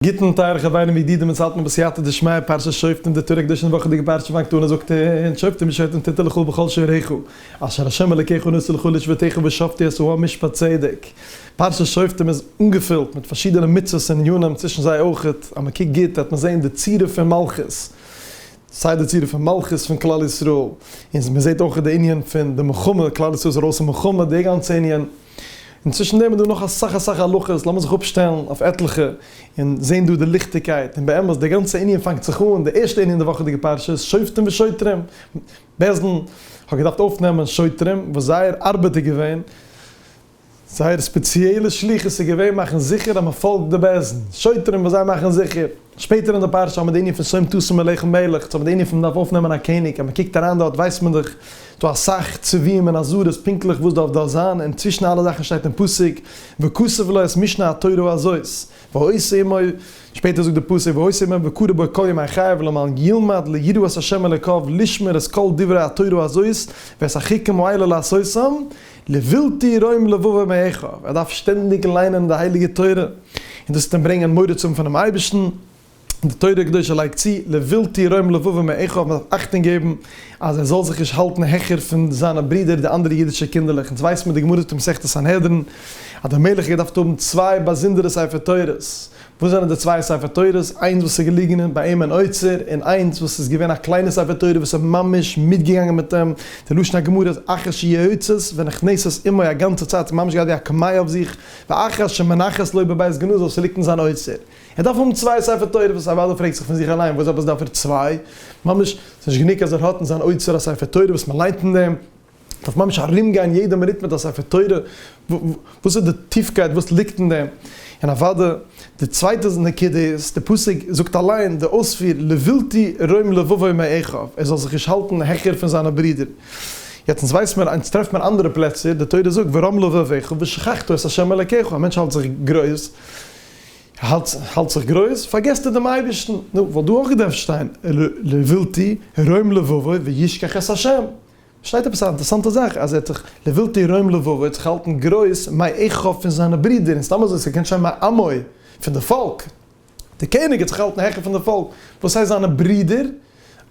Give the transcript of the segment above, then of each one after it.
גוטן טייערע חברים ידידים אונז האלטן בסייעתא דשמיא פרשת שופטים די תורה קדושה און וואכעדיגע פרשה וואנקטאנער זאגט אונז שופטים משפטים תיתי לך בכל שעריך אשר השם אלקיך נושא לך לשבטיך ושופטי את העם משפט צדק פרשת שופטים איז אנגעפילט מיט פארשידענע מצוות און ענינים צווישן זיי אויכעט אז מען קוקט גוט וועט מען זעהן די צורה פון מלכות סיי די צורה פון מלכות פון כלל ישראל און מען זעהט אויכעט די ענין פון די מלחמה כלל ישראל איז ארויס אין מלחמה די גאנצע ענין. און צווישן דעם איז דא נאך אסאך אסאך הלכות, לאמיר זיך אפשטעלן אויף עטליכע און זען דא די ליכטיגקייט, און באמת די גאנצע ענין פאנגט זיך אן, די ערשטע ענין אין די וואכעדיגע פרשה, שופטים ושוטרים, בעש ט האט געדארפט אויפנעמען שוטרים וואס זייער ארבעט איז געווען, זייער ספעציעלע שליחות איז געווען מאכן זיכער אז מען פאלגט די בעש ט, שוטרים וואס זיי מאכן זיכער. שפעטער אין די פרשה האט מען די ענין פון שום תשים אליך מלך, יעצט האט מען די ענין פון מ'דארף אויפנעמען א קעניג, אז מ'קוקט אריין דארט ווייסט מען דאך דא אסאך צווים און אזהרות פונקטליך וואס דארף דארט זיין, און צווישן אלע זאכן שטייט אין פסוק וכסף לו את משנה התורה הזאת והעושה עמו, שפעטער זאגט די פסוק והעושה עמו וקורא בו כל ימי חייו למען ילמד ליראת ה' אלוקיו לשמור את כל דברי התורה הזאת ואת החוקים האלה לעשותם, לבלתי רואים לבבו מעיך, ער דארף שטענדיג ליינען די הייליגע תורה, און דאס וועט אים ברענגען מורא צו האבן פונעם אייבערשטן, די תורה הקדושה לייגט צו, לבלתי רואים לבבו מעיך, מען דארף אכטונג געבן אז ער זאל זיך נישט האלטן העכער פון זיינע ברודער די אנדערע אידישע קינדערלעך, אונז ווייסן מיט די גמרא פון מסכת סנהדרין אז דער מלך האט געדארפט האבן צוויי באזונדערע ספר תורות, וואס זענען די צוויי ספר תורות, איינס וואס איז געליגענען ביי אים אין אוצר, און איינס וואס איז געווען א קליינע ספר תורה וואס איז ממש מיטגעגאנגען מיט אים, די לשון הגמרא איז אחרי שיועצת ונכנסת עמו א גאנצע צייט ס'איז ממש געהאט ווי א קמיע אויף זיך, ואחרי שמונחת לו בבית גנוז אויב ס'ליגט אין זיין אוצר, ער דארף האבן צוויי ספר תורות וואס אוודאי פרעגט זיך פון זיך אליין וואס עפעס דארף ער צוויי, ממש ס'איז נישט גענוג אז ער האט אין זיין אוצר א ספר תורה וואס מ'ליינט אין דעם, דארף ממש ארומגיין יעדע מינוט מיט א ספר תורה, וואס איז די טיפקייט וואס ליגט אין דעם, און אוודאי די צווייטע נקודה איז, די פסוק זאגט אליין די אויספיר לבלתי רום לבבו מאחיו, ער זאל זיך נישט האלטן העכער פון זיינע ברידער, יעצט אונז ווייס מיר אונז טרעפט מיר אנדערע פלעצער, די תורה זאגט ורום לבבך ושכחת את ה' אלקיך, א מענטש האלט זיך גרויס, האלט זיך גרויס פארגעסט ער דעם אייבערשטן, נו וואלט דא אויך געדארפט שטיין לבלתי רום לבבו וישכח את ה'. שטייט עפעס א אינטערעסאנטע זאך אז ער האט זיך לבלתי ירום לבבו, ער האט זיך געהאלטן גרויס מאי עכא פון זיינע ברידער, און סתם אזוי ס'קען שוין מאי עמוי, פון די פאלק, די קעניג האט זיך געהאלטן העכער פון די פאלק, וואס הייסט זיינע ברידער?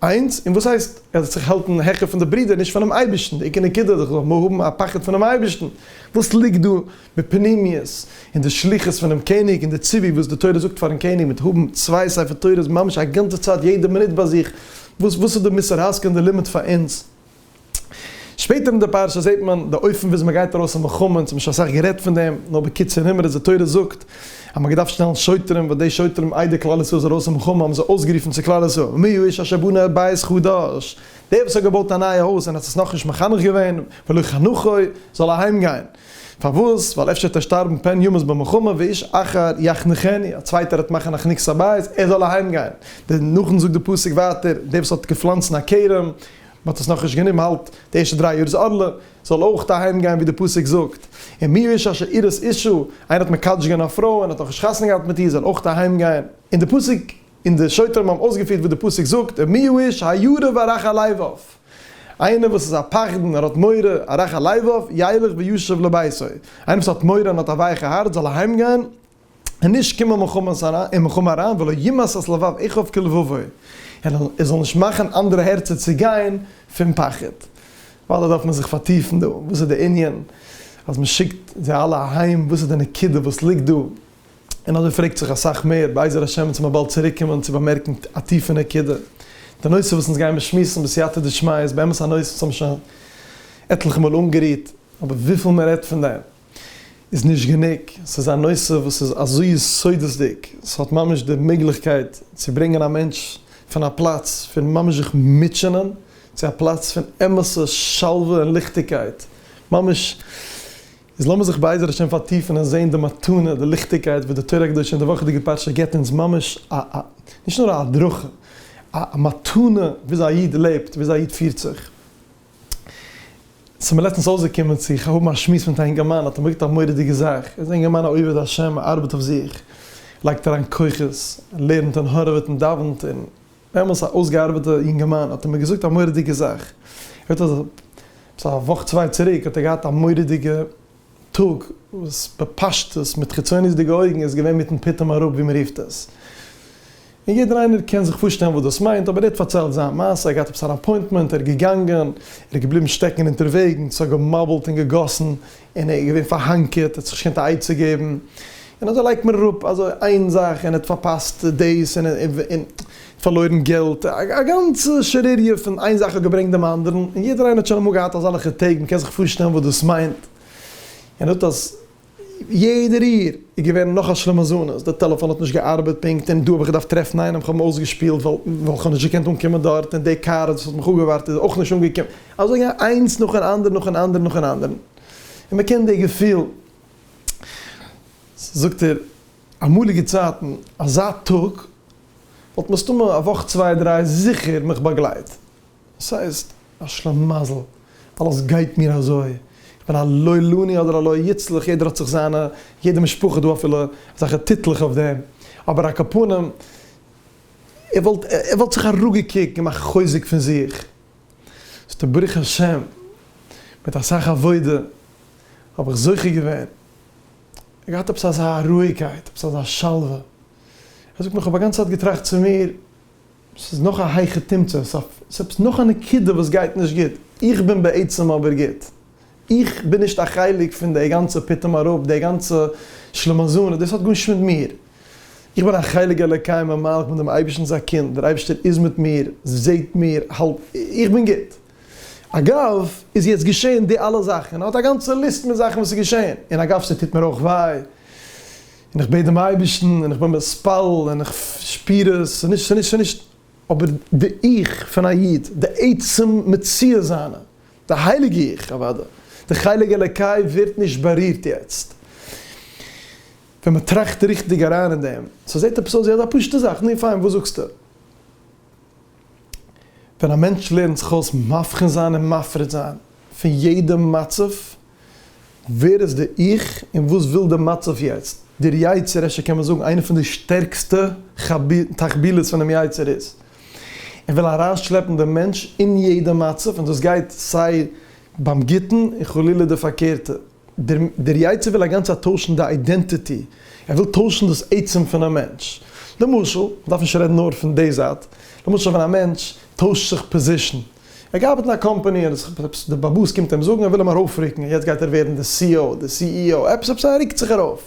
איינס, און וואס הייסט ער האט זיך געהאלטן העכער פון די ברידער, נישט פונעם אייבערשטן, די עיקר נקודה איז דאך זאל מען האבן א פחד פונעם אייבערשטן, וואס ליגט דא? בפנימיות, אין די שליחות פונעם קעניג, אין די ציווי וואס די תורה זאגט פארן קעניג מיט האבן צוויי ספר תורות ממש א גאנצע צייט יעדע מינוט ביי זיך, וואס וואס איז די מוסר השכל און די לימוד פאר אונז? שפעטער אין די פרשה זעט מען די אופן וויאזוי מען גייט ארויס אין מלחמה, אונז האבן שוין אסאך גערעדט פון דעם, נאר בקיצור נמרץ, די תורה זאגט אז מען האט געדארפט שטעלן שוטרים, וואס די שוטרים איידער כלל ישראל איז ארויס אין מלחמה האבן זיי אויסגערופן צו כלל ישראל, מי האיש אשר בנה בית חדש, דער וואס האט געבויט א נייע הויז און האט עס נאכנישט מחנך געווען, ולא חנכו, זאל אהיימגיין. פארוואס? ווייל אפשר וועט ער שטארבן פן ימות במלחמה ואיש אחר יחנכני, א צווייטער וועט מאכן א חנוכת הבית, ער זאל אהיים גיין. דער נאכן זאגט די פסוק ווייטער, דער וואס האט געפלאנצן א כרם, מען האט עס נאכנישט גענומען האלט די ערשטע דריי יאר איז ערלה, זאל אויך אהיים גיין ווי די פסוק זאגט. און מי איש אשר אירס אישה, איינער האט מקדש געווען א פרוי און האט נאכנישט חתונה געהאט מיט איר זאל אויך אהיים גיין. און די פסוק. און די שוטרים האבן אויסגעפירט וואס די פסוק זאגט, און מי הוא איש הירא וארך הלבב, איינער וואס איז א פחדן, ער האט מורא, ארך הלבב, ילך וישוב לביתו, איינער וואס האט מורא און האט א ווייכע הארץ זאל אהיים גיין, און נישט קומען אין מלחמה אריין, ולא ימאס את לבב אחיו כלבבו, און ער זאל נישט מאכן אנדערע הערצער צו גיין פון פחד. וואלא דארף מען זיך פארטיפן דא, וואס איז די ענין אז מען שיקט זיי אלע אהיים, וואס איז די נקודה וואס ליגט דא? און אזוי פרעגט זיך אסאך מער, בעזר השם וועט מען באלד צוריק קומען צו באמערקן א טיפע נקודה. די נושא וואס אונז גיימער שמועסן בסייעתא דשמיא איז באמת א נושא וואס האבן שוין עטליכע מאל אנגערירט, אבער וויפיל מען רעדט פון דעם איז נישט גענוג, ס'איז א נושא וואס איז אזוי יסודות'דיג, ס'האט ממש די מעגליכקייט צו ברענגען א מענטש פון א פלאץ פון ממש זיך מוטשענען, צו א פלאץ פון אמת'ע שלווה און ליכטיגקייט, ממש איז לאמיר זיך בעזר השם פארטיפן און זען די מתנה, די ליכטיגקייט וואס די תורה הקדושה אין די וואכעדיגע פרשה געבט אונז ממש א א נישט נאר א הדרכה, א א מתנה וויאזוי א איד לעבט, וויאזוי א איד פירט זיך. ס'מיר לעצטנס אויסגעקומען צו האבן א שמועס מיט א אינגערמאן, האט ער מיר געזאגט א מורא'דיגע זאך, ער איז א אינגערמאן א עובד השם, ער ארבעט אויף זיך, לייגט אריין כוחות, ער לערנט און הארעוועט און דאווענט און דעמאלס א אויסגעארבעטע יונגערמאן האט ער מיר געזאגט א מוראדיגע זאך, ער האט עפעס א וואך צוויי צוריק האט ער געהאט א מוראדיגע טאג וואס בפשטות מיט חיצוניות'דיגע אויגן איז געווען מיטן פתאום אראפ ווי מען רופט עס, און יעדער איינער קען זיך פארשטעלן וואס דאס מיינט, אבער ער האט פארציילט זיין מעשה, ער האט געהאט עפעס אן אפוינטמענט, ער איז געגאנגען, ער איז געבליבן שטעקן אונטערוועגן, ס'האט געמאבלט און געגאסן, און ער איז געווען פארהאנקערט, ער האט זיך נישט געקענט א עצה געבן, און אזוי לייגט מען אראפ אזוי איין זאך, און ער האט פארפאסט דאס, און פארלוירן געלט, א גאנצע שערעריע פון איין זאך האט געברענגט דעם אנדערן, און יעדער איינער האט שוין אמאל געהאט אזעלכע טעג, מען קען זיך פארשטעלן וואס דאס מיינט, און ער זאגט אז יעדע ריר איז געווען נאך א שלמזנות, די טעלעפאן האט נישט געארבעט פונקט, און דא האב איך געדארפט טרעפן איינעם, כ'האב אים אויסגעשפילט ווייל כ'האב נישט געקענט אנקומען דארט, און די קאר וואס האט מיך אפגעווארט איז אויך נישט אנגעקומען. אזוי איינס נאך אן אנדערן, נאך אן אנדערן, נאך אן אנדערן, און מען קען די געפיל. זאגט ער, אמאליגע צייטן, אזא טאג וואלט מסתמא א וואך צוויי דריי זיכער מיך באגלייט. דאס הייסט, א שלמזל, אלעס גייט מיר אזוי, איך בין א לא עלני אדער א לא יצלח, יעדער האט זיך זיינע, יעדע משפחה דא אפילו אזעלכע טיטלעך אויף דעם, אבער א קאפאנעם, ער וואלט, ער וואלט זיך אראפגעקוקט, געמאכט חוזק פון זיך. ס'טא ברוך השם מיט אסאך עבודה האב איך זוכה געווען און געהאט עפעס אזא רואיגקייט, עפעס אזא שלווה. ער זאגט מיר, כ'האב א גאנצע צייט געטראכט צו מיר, ס'איז נאך א הייכע תמצות, ס'איז עפעס נאך א נקודה וואס גייט נישט גוט, איך בין בעצם אבער גוט. איך בין נישט א חלק פון די גאנצע פתאום אראפ, די גאנצע שלמזון, דאס האט גארנישט מיט מיר. איך בין א חלק אלוקי ממעל, כ'בין דעם אייבערשטנ'ס א קינד, דער אייבערשטער איז מיט מיר, זעט מיר, האלט, איך בין גוט. אגב, איז יעצט געשען די אלע זאכן, ער האט א גאנצע ליסט מיט זאכן וואס איז געשען, און אגב ס'טוט מיר אויך וויי, און איך בעט דעם אייבערשטן, און איך בין מתפלל, און איך שפיר עס, ס'נישט, ס'נישט, ס'נישט, אבער די 'איך' פון א איד, די עצם מציאות זיינע, די הייליגע איך, אוואדע, די חלק אלוקי ווערט נישט בארירט יעצט ווען מען טראכט ריכטיג אריין אין דעם. ס'זעט עפעס אויס ווי אזא פשוטע זאך, נו פיין, וואס זאגסטו? ווען א מענטש לערנט זיך אויס מבחין זיין און מפריד זיין פון יעדע מצב, ווער איז די 'איך' און וואס וויל די מצב יעצט? דער יצר רע ש קען מען זאגן איינע פון די שטערקסטע תחבילות פונעם יצר איז ער וויל אריינשלעפן דעם מענטש אין יעדע מצב און דאס גייט סיי ביים גוטן און חלילה די פארקערטע. דער יצר וויל אגאנצעט טוישן די אידענטיטי, ער וויל טוישן דאס עצם פונעם מענטש. למשל, מ'דארף נישט רעדן נאר פון די זייט, למשל ווען א מענטש טוישט זיך פאזישן, ער גייט ארבעטן א קאמפאני און עפעס די באבוס קומט אים זאגן ער וויל אים ארויפרוקן און יעצט גייט ער ווערן די סי או די סי אי או עפעס עפעס ער רוקט זיך ארויף.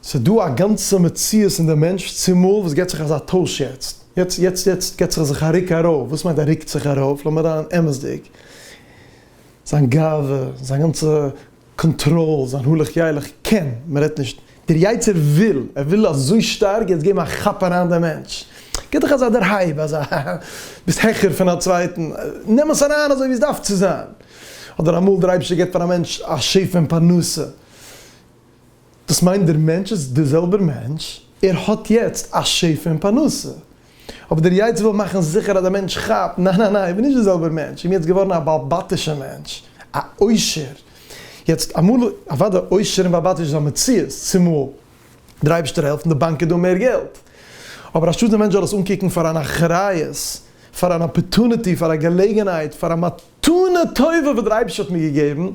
ס'דא א גאנצע מציאות אין די מענטש צומאל וואס געט זיך אזא טויש יעצט יעצט יעצט יעצט געט זיך זיך א רוק ארויף וואס מיינט ער רוקט זיך ארויף לאמיר זיין אמת'דיג זיין גאווה זיין גאנצע קאנטראל, זיין הלך ילך קען, מען רעדט נישט, דער יצה ר וויל, ער וויל אזוי שטארק יעצט געבן א כאפ אריין דעם מענטש, גיב דיך אזא דערהייב, אזא ביסט העכער פון א צווייטן, נעם עס אריין אזוי ווי עס דארף צו זיין, אדער אמאל דער אייבערשטער גיבט פאר א מענטש א שפע אין פרנסה, דאס מיינט דער מענטש איז דער זעלבער מענטש, ער האט יעצט א שפע און פרנסה, אבער דער יצר וויל מאכן זיכער אז דער מענטש כאפט, ניין ניין ניין, איך בין נישט דער זעלבער מענטש, איך בין יעצט געווארן א בעל בתישער מענטש, א עושר, יעצט אמאל, אוודאי עושר און בעל בתיש איז א מציאות, צומאל, דער אייבערשטער העלפט און די באנק איז דא מער געלט, אבער אנשטאט דער מענטש זאל עס אנקוקן פאר אן אחריות, פאר אן אפערטוניטי, פאר א געלעגנהייט, פאר א. תנא טובה וואס דער אייבערשטער האט מיר געגעבן,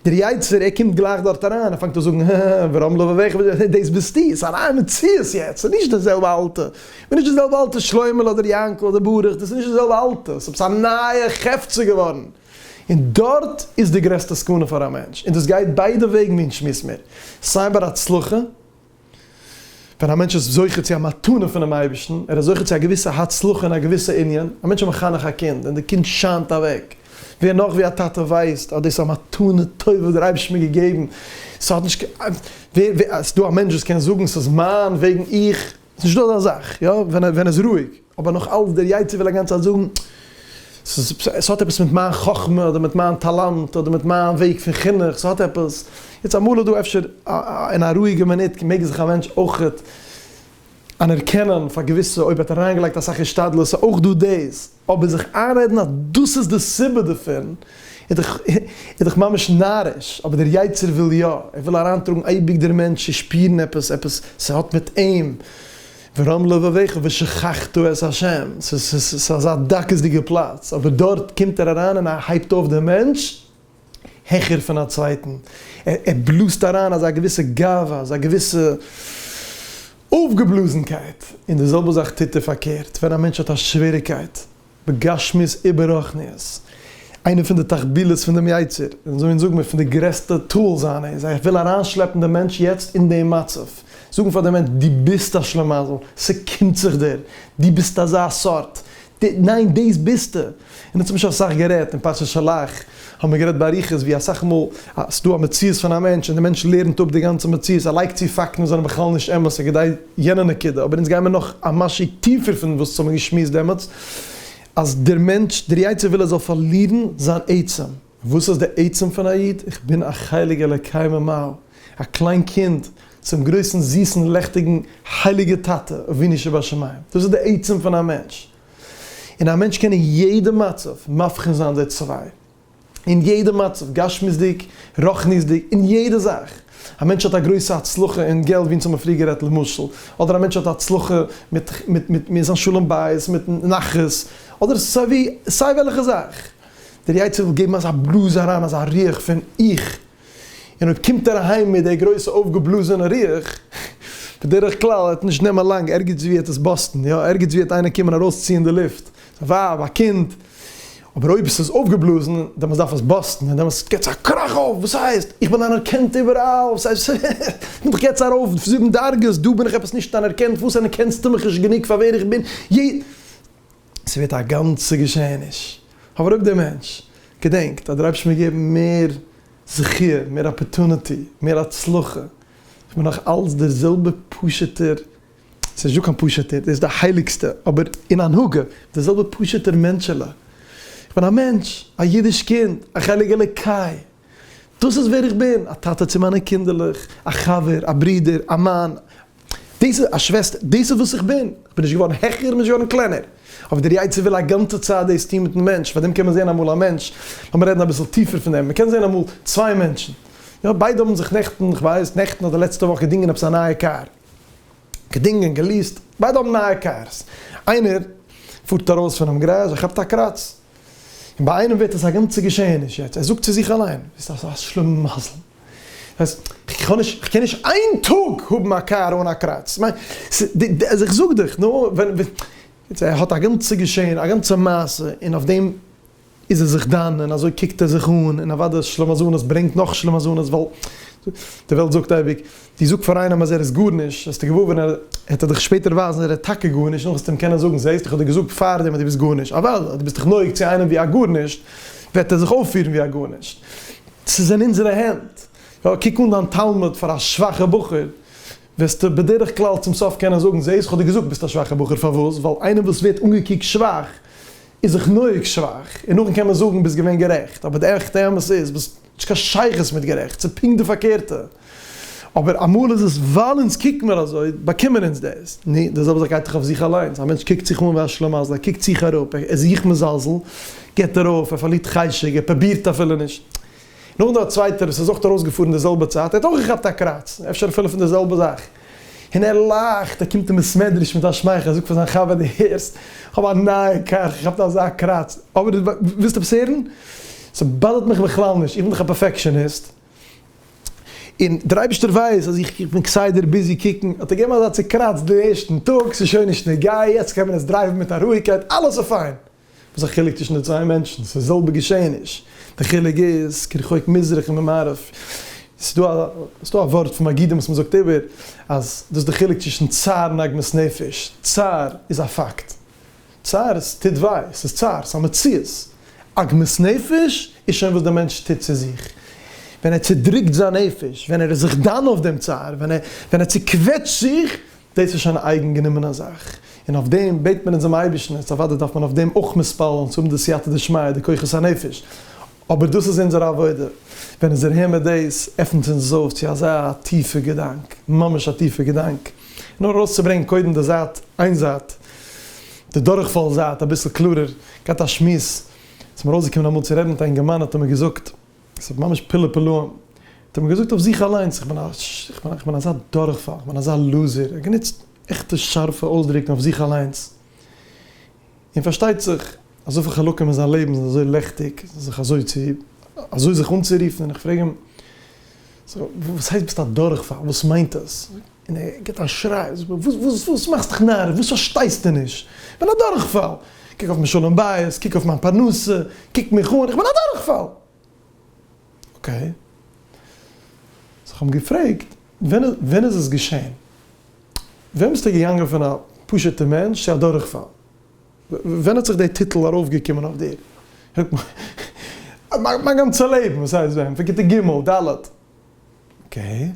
דער יצה ר קומט גלייך דארט אריין, ער פאנגט אן זאגן, הא, ווארום לבביך וואס דו, דאס ביסטו, עס איז א נייע מציאות יעצט, עס איז נישט דער זעלבע אלטע, איך בין נישט דער זעלבע אלטע שלוימעלע אדער יענקל אדער ברוך, דאס איז נישט דער זעלבע אלטע, עס איז עפעס א נייע חפצא געווארן, און דארט איז די גרעסטע סכנה פאר א מענטש, און דאס גייט ביידע וועגן ווי אונז שמועסן מיר, סיי ביי די הצלחה, ווען א מענטש איז זוכה צו א מתנה פונעם אייבערשטן, ער איז זוכה צו א געוויסע הצלחה אין א געוויסע ענין, א מענטש איז מחנך א קינד און די קינד שיינט אוועק, ווער נאך ווי א טאטע ווייסט אז דאס איז א מתנה טובה וואס דער אייבערשטער האט מיר געגעבן, ס'האט נישט קיין ווער ווער ס'דא א מענטש וואס קען זאגן ס'איז מיין וועגן איך, ס'נישטא אזא זאך, יא, ווען ער ווען ער איז רואיג. אבער נאך אלס דער יצר וויל אגאנץ צייט זאגן ס'איז ס'האט עפעס מיט מיין חכמה אדער מיט מיין טאלאנט אדער מיט מיין וועג פון חינוך ס'האט עפעס יעצט אמאל איז דא אפשר אין א רואיגע מינוט מעג זיך א מענטש אויכעט אנערקענען פאר געוויסע אויב ער האט אריינגעלייגט אסאך השתדלות ס'איז אויך דא דאס אבער זיך איינרעדן אז דאס איז די סיבה דערפון איז דאך איז דאך ממש נאריש אבער דער יצר וויל יא ער וויל אריינטראגן אייביג דער מענטש צו שפירן עפעס עפעס ס'האט מיט אים. געזאגט, ורם לבביך ושכחת את ה', ס'איז אזא דקות'דיגע פלאץ, אבער דארט קומט ער אריין און ער הייבט אויף דעם מענטש העכער פון א צווייטן, ער בלאזט אריין אזא געוויסע גאווה, אזא געוויסע אויפגעבלאזנקייט, און די זעלבע זאך טוט ער פארקערט, ווען א מענטש האט א שוועריקייט, בגשמיות איבעררוחניות, איינע פון די תחבילות פון דעם יצר, און אזוי זאגן מיר פון די גרעסטע טול זיינע איז ער וויל אריינשלעפן דעם מענטש יעצט אין דעם מצב, זאגן פאר דעם מענטש דו ביסט א שלמזל, ס'קומט זיך דיר, דו ביסט אזא סארט, ניין דאס ביסטו, און ער האט צום משל אסאך גערעדט אין פרשת שלח. האבן מיר גערעדט באריכות ווי אסאך מאל אז ס'דא א מציאות פון א מענטש און די מענטש לערנט אפ די גאנצע מציאות, ער לייגט צו פאקטן וואס זענען בכלל נישט אמת און כדי יענע נקודה, אבער אונז גייען מיר נאך א משהו טיפער פון וואס האבן מיר געשמועסט דעמאלטס, אז דער מענטש, דער יצר וויל ער זאל פארלירן זיין עצם, וואס איז די עצם פון א איד? איך בין א חלק אלוקי ממעל, א קליין קינד צום גרויסן זיסן לעכטיגן הייליגער טאטע אבינו שבשמים, דאס איז די עצם פון א מענטש, און א מענטש קען אין יעדע מצב מבחין זיין די צוויי, אין יעדע מצב, גשמיות'דיג, רוחניות'דיג, אין יעדע זאך, א מענטש האט א גרויסע הצלחה אין געלט ווי אונז האבן פריער גערעדט למשל, אדער א מענטש האט א הצלחה מיט מיט מיט זיין שלום בית, מיט נחת, אדער סיי ווי, סיי וועלכע זאך, דער יצר וויל געבן אזא בלאז אריין, אזא ריח פון איך און אויב קומט ער אהיים מיט די גרויסע אויפגעבלאזענע רוח, בדרך כלל וועט נישט נעמען לאנג, ערגעץ ווי וועט עס באסטן, יא, ערגעץ ווי וועט איינער קומען ארויסציען די לופט, א ווייב, א קינד, אבער אויב עס איז אויפגעבלאזן, דעמאלס דארף עס באסטן, און דעמאלס געבט עס א קראך אויף, וואס הייסט? איך בין אנערקענט איבעראל, וואס הייסט? איך בין דאך יעצט ארויף זיבן דרגות, דא בין איך עפעס נישט אנערקענט, וואס אנערקענסטו מיך נישט גענוג פאר ווער איך בין? ס'ווערט א גאנצע געשעעניש. אבער אויב דער מענטש געדענקט אז דער אייבערשטער מיר געבן מער זכי', מער אפערטוניטי, מער הצלחה, איך בין נאך אלץ דער זעלבע פשוט'ער, ס'איז נישטא קיין פשוט'ער, דאס איז די הייליגסטע, אבער אין הנהגה, דער זעלבע פשוט'ער מענטשעלע, איך בין א מענטש, א אידיש קינד, א חלק אלוקי. דאס איז ווער איך בין, א טאטע צו מיינע קינדערלעך, א חבר, א ברודער, א מאן, דאס איז א שוועסטער, דאס איז וואס איך בין, איך בין נישט געווארן העכער, נישט געווארן קלענער, אבער דער יצר וויל א גאנצע צייט דאס טון מיטן מענטש, פארדעם קען מען זען אמאל א מענטש, לאמיר רעדן אביסל טיפער פון דעם, מען קען זען אמאל צוויי מענטשן, יא ביידע האבן זיך נעכטן, איך ווייס, נעכטן אדער לעצטע וואך געדינגען עפעס א נייע קאר, געדינגען, געליעסט, ביידע האבן נייע קארס, איינער פארט ארויס פונעם גאראזש, ער כאפט א קראץ, און ביי איינעם ווערט עס א גאנצע געשעהעניש יעצט, ער זאגט צו זיך אליין, ביסט א א שלמה מזל, אז כ'האב נישט, כ'קען נישט איין טאג האבן א קאר אן א קראץ, מיין, אז איך זאג דיך, נו, ווען, יעצט ער האט א גאנצע געשעהן, א גאנצע מעשה, און אויף דעם איז ער זיך דן, און אזוי קוקט ער זיך אן, און אוודאי אז שלמזלות ברענגט נאך שלמזלות, ווייל די וועלט זאגט אייביג, די זאגט פאר איינעם אז ער איז גארנישט, וועסטו געוואר ווערן ער העט ער דיך שפעטער ווייזן ער איז טאקע גארנישט און נאך וועסטו אים קענען זאגן זעהסט איך האב דיר געזאגט פארדעם אז דו ביסט גארנישט, אוודאי אז דו ביסט דיך נוהג צו איינעם ווי א גארנישט וועט ער זיך אויפפירן ווי א גארנישט, ס'איז אין אונזערע הענט, יא קוק אן דיין תלמיד פאר א שוואכע בחור וועסטו בדרך כלל צום סוף קענען זאגן זעהסט איך האב דיר געזאגט ביסט א שוואכע בחור פארוואס ווייל איינער וואס ווערט אנגעקוקט שוואך איז זיך נוהג שוואך און נאכדעם קען מען זאגן ביסט געווען גערעכט אבער די עכטע אמת איז וואס האט נישט קיין שייכות מיט גערעכט ס'איז פונקט די פארקערטע. אבער אמאל איז עס ווייל אונז קוקן מיר אזוי, באקומען אונז דאס. נו, די זעלבע זאך גייט דאך אויף זיך אליינס. א מענטש קוקט זיך אן ווי א שלמזל, ער קוקט זיך אראפ, ער איז זיך מזלזל, גיבט ער אויף, ער פארלירט חשק, ער פרובירט אפילו נישט. נאכדעם א צווייטער וואס איז אויך ארויסגעפארן די זעלבע צייט, ער האט אויך געכאפט א קראץ, אפשר אפילו פון די זעלבע זאך, און ער לאכט, ער קומט אין בית מדרש מיט א שמייכל, ער זאגט פאר זיין חבר, דו הערסט, איך האב א נייע קאר, איך האב געכאפט אזא קראץ. אבער ווילסט עפעס הערן? ס'באדערט מיך בכלל נישט, איך בין דאך א פערפעקשאניסט. און דער אייבערשטער ווייס אז איך בין כסדר ביזי קוקן, האט ער געגעבן אזא צוקראצט די ערשטן טאג, ס'איז שוין נישט נוגעי, יעצט קען מען עס דרייוון מיט א רואיגקייט, אלעס איז פיין. וואס איז א חילוק צווישן די צוויי מענטשן? ס'איז די זעלבע געשעעניש. די חילוק איז כרחוק מזרח ממערב. ס'איז דא א, ס'איז דא א ווארט פון מגידים וואס מ'זאגט איבער אז דאס איז די חילוק צווישן צער און עגמת נפש. צער איז א פאקט. צער, עס טוט וויי, עס איז צער, עס איז א מציאות. עגמת נפש איז שוין וואס דער מענטש טוט צו זיך, ווען ער צעדרוקט זיין נפש, ווען ער איז זיך דן אויף דעם צער, ווען ער צעקוועטשט זיך, דאס איז שוין א אייגן גענומענע זאך, און אויף דעם בעט מען אונזעם אייבערשטן, און אוודאי דארף מען אויף דעם אויך מתפלל זיין צו האבן די סייעתא דשמיא, די כוחות הנפש, אבער דאס איז אונזער עבודה, ווען אונז הערן מיר דאס עפנט אונז עס אויף צו אזא טיפע געדאנק, ממש א טיפע געדאנק, נאר ארויסצוברענגן קודם די זייט, איין זייט, די דורכפאל זייט אביסל קלארער, געהאט א שמועס, ס'איז מיר אויסגעקומען אמאל צו רעדן מיט א אינגערמאן האט ער מיר געזאגט, ס'איז ממש פלא פלאים, האט ער מיר געזאגט אויף זיך אליינס, איך בין א, איך בין אזא דורכפאל, איך בין אזא לוזער, ער האט גענוצט עכטע שארפע אויסדרוקן אויף זיך אליינס. און פארשטייט זיך, אזויפיל חלקים אין זיין לעבן זענען אזוי לעכטיג, זיך אזוי צו, אזוי זיך אנצורופן, און איך פרעג אים, סאו, וואס הייסט ביסט א דורכפאל, וואס מיינט עס? און ער גיבט א שריי, ער זאגט מיר, וואס, וואס, וואס מאכסט דיך נאריש, וואס פארשטייסטו נישט? איך בין א דורכפאל! קוק אויף מיין שלום בית, קוק אויף מיין פרנסה, קוק מיך אן, איך בין א דורכפאל! אקעי. זיך האבן געפרעגט ווען איז עס געשען? ווען ביסטו געגאנגען פון א פשוטע מענטש צו א דורכפאל? ווען האט זיך די טיטל ארויפגעקומען אויף דיר? מיין גאנצע לעבן, וואס הייסט ווען? פון כיתה ג', ד'. אקעי.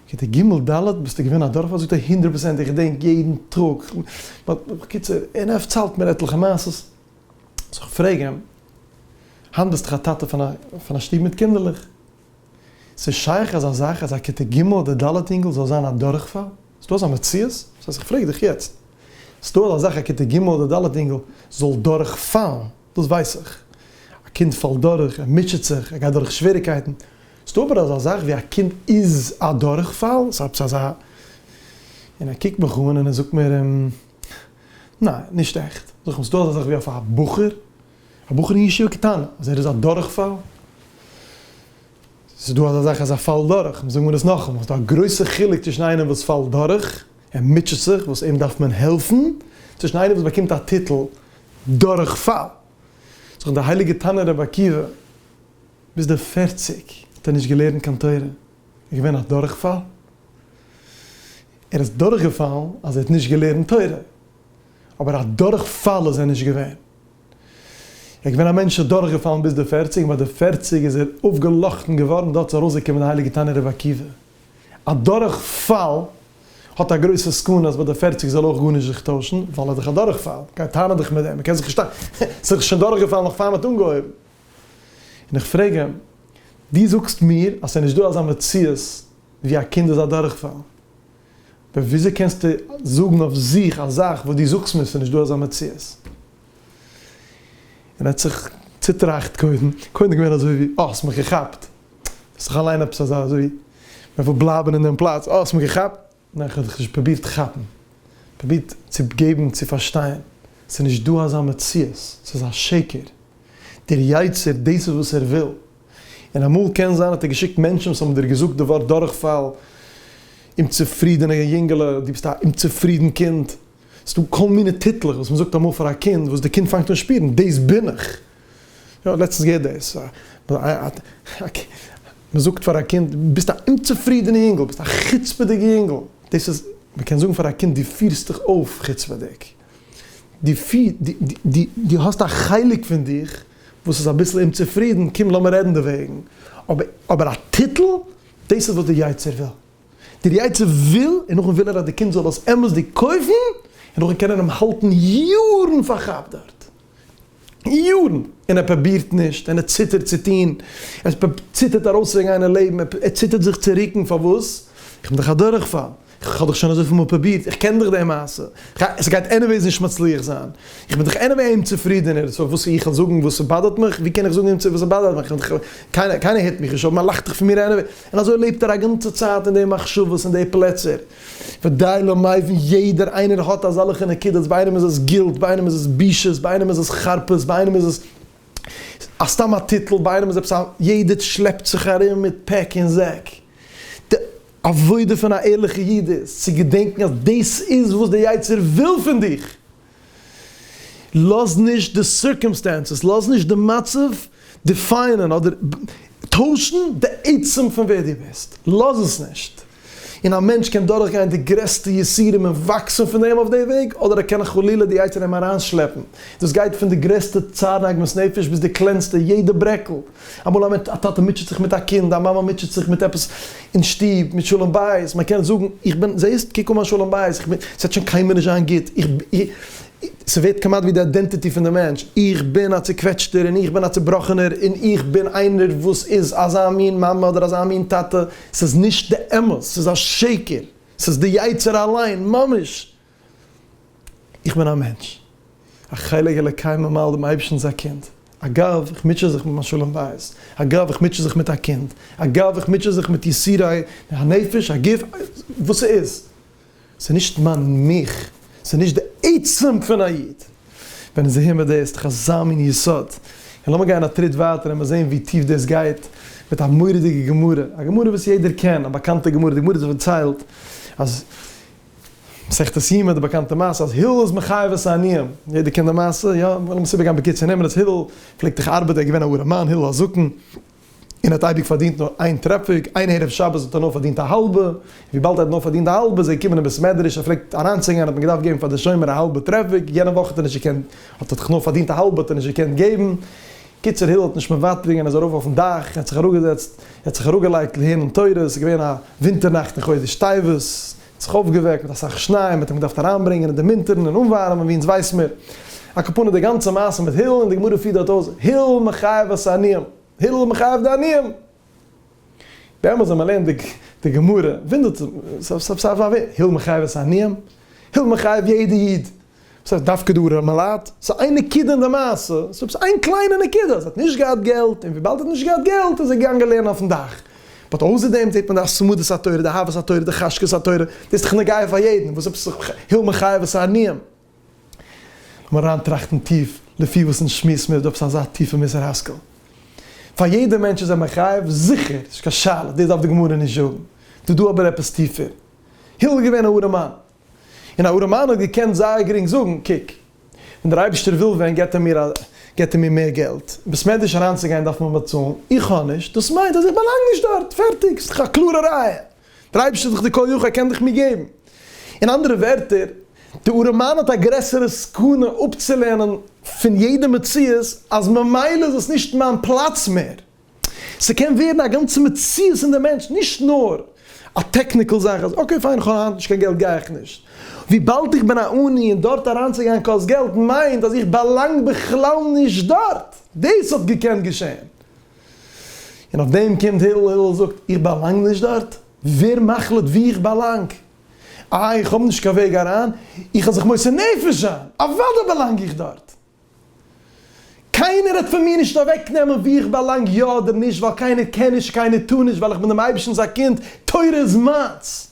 כיתה ג', ד' ביסטו געווען א דורכפאל? זאגט ער הונדרעט פראצענט, איך געדענק יעדן טאג. בקיצור, און ער פארציילט מיר עטליכע מעשות. זאָל איך פֿרעגן, הײַנט ביסטו אַ טאַטע פֿון אַ שטוב מיט קינדערלעך? ס'איז שײך אַזאַ זאַך, אַז אַ כּיתה ג' אָדער ד' ייִנגל זאָל זײַן אַ דורכפֿאַל? איז דאָ אַזאַ מציאות? דאָס הײסט, איך פֿרעג דיך יעצט, איז דאָ אַזאַ זאַך, אַ כּיתה ג' אָדער ד' ייִנגל זאָל דורכפֿאַלן? דאָס ווייס איך, אַ קינד פֿאַלט דורך, ער מוטשעט זיך, ער גייט דורך שוועריקייטן. איז דאָ אָבער אַזאַ זאַך, ווי אַ קינד איז אַ דורכפֿאַל? ס'איז עפּעס אַזאַ? און ער קוקט מיך אָן און ער זאָגט מיר. ניין, נישט עכט. זאג איך, ס'איז דא אזא זאך ווי אויף א בחור, א בחור אין ישיבה קטנה, אז ער איז א דורכפאל? ס'איז דא אזא זאך אז ער פאלט דורך, מ'זאג מיר עס נאכאמאל, ס'איז דא א גרויסע חילוק צווישן איינער וואס פאלט דורך, ער מוטשעט זיך, וואס אים דארף מען העלפן, צווישן איינער וואס באקומט א טיטל דורכפאל. זאג איך, דער הייליגער תנא רבי עקיבא, ביז די פֿערציק האט ער נישט געלערנט קיין תורה, איז געווען א דורכפאל? ער איז דורכגעפאלן אז ער האט נישט געלערנט תורה, אבער א דורכפאל איז ער נישט געווען. ער איז געווען א מענטש דורכגעפאלן ביז די פערציג, און ביי די פערציג איז ער אויפגעלאכטן געווארן, דארט איז ארויסגעקומען די הייליגע תנא רבי עקיבא. א דורכפאל האט א גרויסע סכנה אז ביי די פערציג זאל אויך גארנישט זיך טוישן, ווייל ער איז דאך א דורכפאל, גייט טענה'ן דיך מיט דעם, ער קען זיך נישט טענה'ן, ער איז דאך שוין דורכגעפאלן נאך פאר מען האט אנגעהויבן. און איך פרעג אים, דו זאגסט מיר אז ס'איז נישט דא אזא מציאות ווי א קינד איז א דורכפאל. אבער וויאזוי קענסטו זאגן אויף זיך א זאך וואס דו זאגסט מיר עס איז נישט דא אזא מציאות? און ער האט זיך צוטראכט קודם, קודם געווען אזוי ווי, אה, האסט מיך געכאפט. האסט דאך אליין עפעס אזא אזוי ווי מען וויל בלייבן אין דעם פלאץ, אה, האסט מיך געכאפט. ניין, איך האב דיך נישט פרובירט כאפן. פרובירט צו געבן צו פארשטיין. עס איז נישט דא אזא מציאות. עס איז א שקר. דער יצר, דאס איז וואס ער וויל. און אמאל קען זיין האט ער געשיקט מענטשן וואס האבן דיר געזאגט די ווארט דורכפאל, אומצופרידענע יונגעלע, דו ביסט א אומצופרידן קינד, ס'איז דא כל מיני טיטלעך וואס מ'זאגט אמאל פאר א קינד וואס די קינד פאנגט אן שפירן דאס בין איך, יא כ'האב לעצטנס געהערט דאס, מ'זאגט פאר א קינד דו ביסט א אומצופרידענע יונגעל, ביסט א חוצפה'דיגע יונגעל, דאס איז, מ'קען זאגן פאר א קינד דו פירסט דיך אויף חוצפה'דיג. דו האסט א חלק פון דיך וואס איז אביסל אומצופרידן, קום לאמיר רעדן דערוועגן, אבער א טיטל? דאס איז וואס דער יצר וויל. דער יצר וויל, און נאכדעם וויל ער אז די קינד זאל עס אמת'דיג קויפן, און נאכדעם קען ער אים האלטן יארן פארכאפט דארט. יארן און ער פרובירט נישט און ער ציטערט צו טון, ער ציטערט ארויסצוגיין אין לעבן, ער ציטערט זיך צו רוקן, פארוואס? איך בין דאך א דורכפאל, איך האב דאך שוין אזויפיל מאל פרובירט, איך קען דאך די מעשה, עס גייט עניוועיס נישט מצליח זיין, איך בין דאך עניוועי אומצופרידענער, סאו וואס איך זאל זאגן וואס עס באדערט מיך? ווי קען איך זאגן אימצער וואס עס באדערט מיך? קיינער הערט מיך נישט אויף, מען לאכט דאך פון מיר עניוועי, און אזוי לעבט ער א גאנצע צייט אין די מחשבות אין די פלעצער. ודי לא מבין יעדער איינער האט אזאלעכע נקודות ביי איינעם איז עס גילט ביי איינעם איז עס בושות ביי איינעם איז עס חרפות ביי איינעם איז עס סתם א טיטל ביי איינעם איז עפעס א יעדער שלעפט זיך ארום מיט פעק און זעק די עבודה פון א ערליכע איד איז צו געדענקן אז דאס איז וואס די יצר וויל פון דיך לאז נישט די סירקעמסטענסעס, לאז נישט די מצב דיפיינען אדער טוישן די עצם פון ווער דו ביסט, לאז עס נישט. און א מענטש קען דורכגיין די גרעסטע יסורים און וואקסן פון דעם אויף די וועג, אדער ער קען חלילה די יצר אים אריינשלעפן, דאס גייט פון די גרעסטע צער און עגמת נפש ביז די קלענסטע, יעדע ברעקל. אמאל א א טאטע מוטשעט זיך מיט א קינד, א מאמע מוטשעט זיך מיט עפעס אין שטוב, מיט שלום בית, מען קען זאגן, איך בין זעהסט, קוק אן מיין שלום בית, איך בין, עס וועט שוין קיינמאל נישט זיין גוט, איך בין, ס'ווערט כמעט ווי די איידענטיטי פון די מענטש, איך בין א צוקוועטשטער, און איך בין א צובראכענער, און איך בין איינער וואס איז אזא מין מאמע אדער אזא מין טאטע, ס'איז נישט די אמת, ס'איז א שקר, ס'איז די יצה ר אליין ממש! איך בין א מענטש, א חלק אלוקי ממעל, דעם אייבערשטנ'ס א קינד. אגב, איך מוטשע זיך מיט מיין שלום בית. אגב, איך מוטשע זיך מיט א קינד. אגב, איך מוטשע זיך מיט יסורי הנפש, הגוף, וואס ס'איז. ס'איז נישט מיין מיך. ס'איז נישט די עצם פון א איד. ווען איז ער מודה? ס'איז דאך אזא מין יסוד. און לאמיר גיין א טריט ווייטער און מיר זעהן ווי טיף דאס גייט, מיט א מורא'דיגע גמרא. א גמרא וואס יעדער קען, א באקאנטע גמרא. די גמרא האט דאס פארציילט אז מסכת יומא די באקאנטע מעשה אז הלל איז מחייב את העניים, יעדער קען די מעשה, יא? לאמיר עס איבערגיין בקיצור, נעמען אז הלל פלעגט דאך ארבעטן, ער איז געווען א ארעמאן, הלל הזקן, און ער האט אייביג פארדינט נאר איין טרעפיק, איין ערב שבת האט ער נאר פארדינט א האלבע, וויבאלד ער האט נאר פארדינט די האלבע איז ער געקומען אין בית מדרש, ער פלעגט אריינצוגיין האט מען געדארפט געבן פאר די שומר א האלבע טרעפיק, יענע וואך האט ער נישט געקענט, האט ער דאך נאר פארדינט א האלבע האט ער נישט געקענט געבן, קיצור הילל האט נישט מוותר געווען ער איז ארויף אויפן דאך און האט זיך אראפגעזעצט און האט זיך אראפגעלייגט לערנען תורה עס איז געווען א ווינטער נאכט אין חודש טבת עס האט זיך אויפגעוועקט מיט אסאך שניי און מען האט אים געדארפט אריינברענגען און דערמינטערן און אנווארעמען ווי אונז ווייס מיר א קאפונע די גאנצע מעשה מיט הילל און די גמרא פירט דארט אויס הילל מחייב את העניים הילל מחייב די עניים באמת ווען מען לערנט די די גמרא ווינדערט מען זיך הילל מחייב את העניים הילל מחייב יעדע איד וואס הייסט דווקא דו ר' מלאד? ס'איז איין נקודה אין די מעשה, ס'איז עפעס איין קליינע נקודה, אז ער האט נישט געהאט געלט, און וויבאלד ער האט נישט געהאט געלט איז ער געגאנגען לערנען אויפן דאך. באט אויסער דעם זעט מען די התמדת התורה, די אהבת התורה, די חשקת התורה, דאס איז דאך נוגע פאר יעדן, וואס איז עפעס היל מחייב את העניים? לאמיר אריינטראכטן טיף, לפי וואס אונז שמועסן מיר איז דא עפעס אזא טיפע מוסר השכל. פאר יעדע מענטש איז ער מחייב, זיכער, ס'נישט קיין שאלה, דאס דארף די גמרא נישט זאגן. דא דא אבער עפעס טיפער. הילל איז געווען א ארעמאן, און א ארעמאן האט געקענט זייער גרינג זאגן, קוק, ווען דער אייבערשטער וויל ווען געט ער מיר געט ער מיר מער געלט, ביז ס'מעדיש אריינצוגיין דארף מען באצאלן, איך האב נישט, דאס מיינט אז איך באלאנג נישט דארט, פערטיג, ס'דאך א קלארע ראיה, דער אייבערשטער איז דאך דער כל יכול, ער קען דאך מיר געבן. אין אנדערע ווערטער, דער ארעמאן האט א גרעסערע סכנה אפצולערנען פון יעדע מציאות אז ממילא איז עס נישט מיין פלאץ מער, ס'קען ווערן א גאנצע מציאות אין די מענטש, נישט נאר א טעקניקעל זאך אז אקעי פיין איך האב היינט נישט קיין געלט גיי איך נישט, וויבאלד איך בין א עני און דארט אריינצוגיין קאסט געלט מיינט אז איך באלאנג בכלל נישט דארט, דאס האט געקענט געשען, און אויף דעם קומט הילל, הילל זאגט איך באלאנג נישט דארט? ווער מחליט וואו איך באלאנג? איי איך האב נישט קיין וועג אריין? איך האב זיך מוסר נפש זיין, אוודאי באלאנג איך דארט! קיינער העט פון מיר נישט אוועקנעמען וואו איך באלאנג יא אדער נישט, ווייל קיינער קען נישט, קיינער טאר נישט, ווייל איך בין דעם אייבערשטנ'ס א קינד, תורה איז מיינס.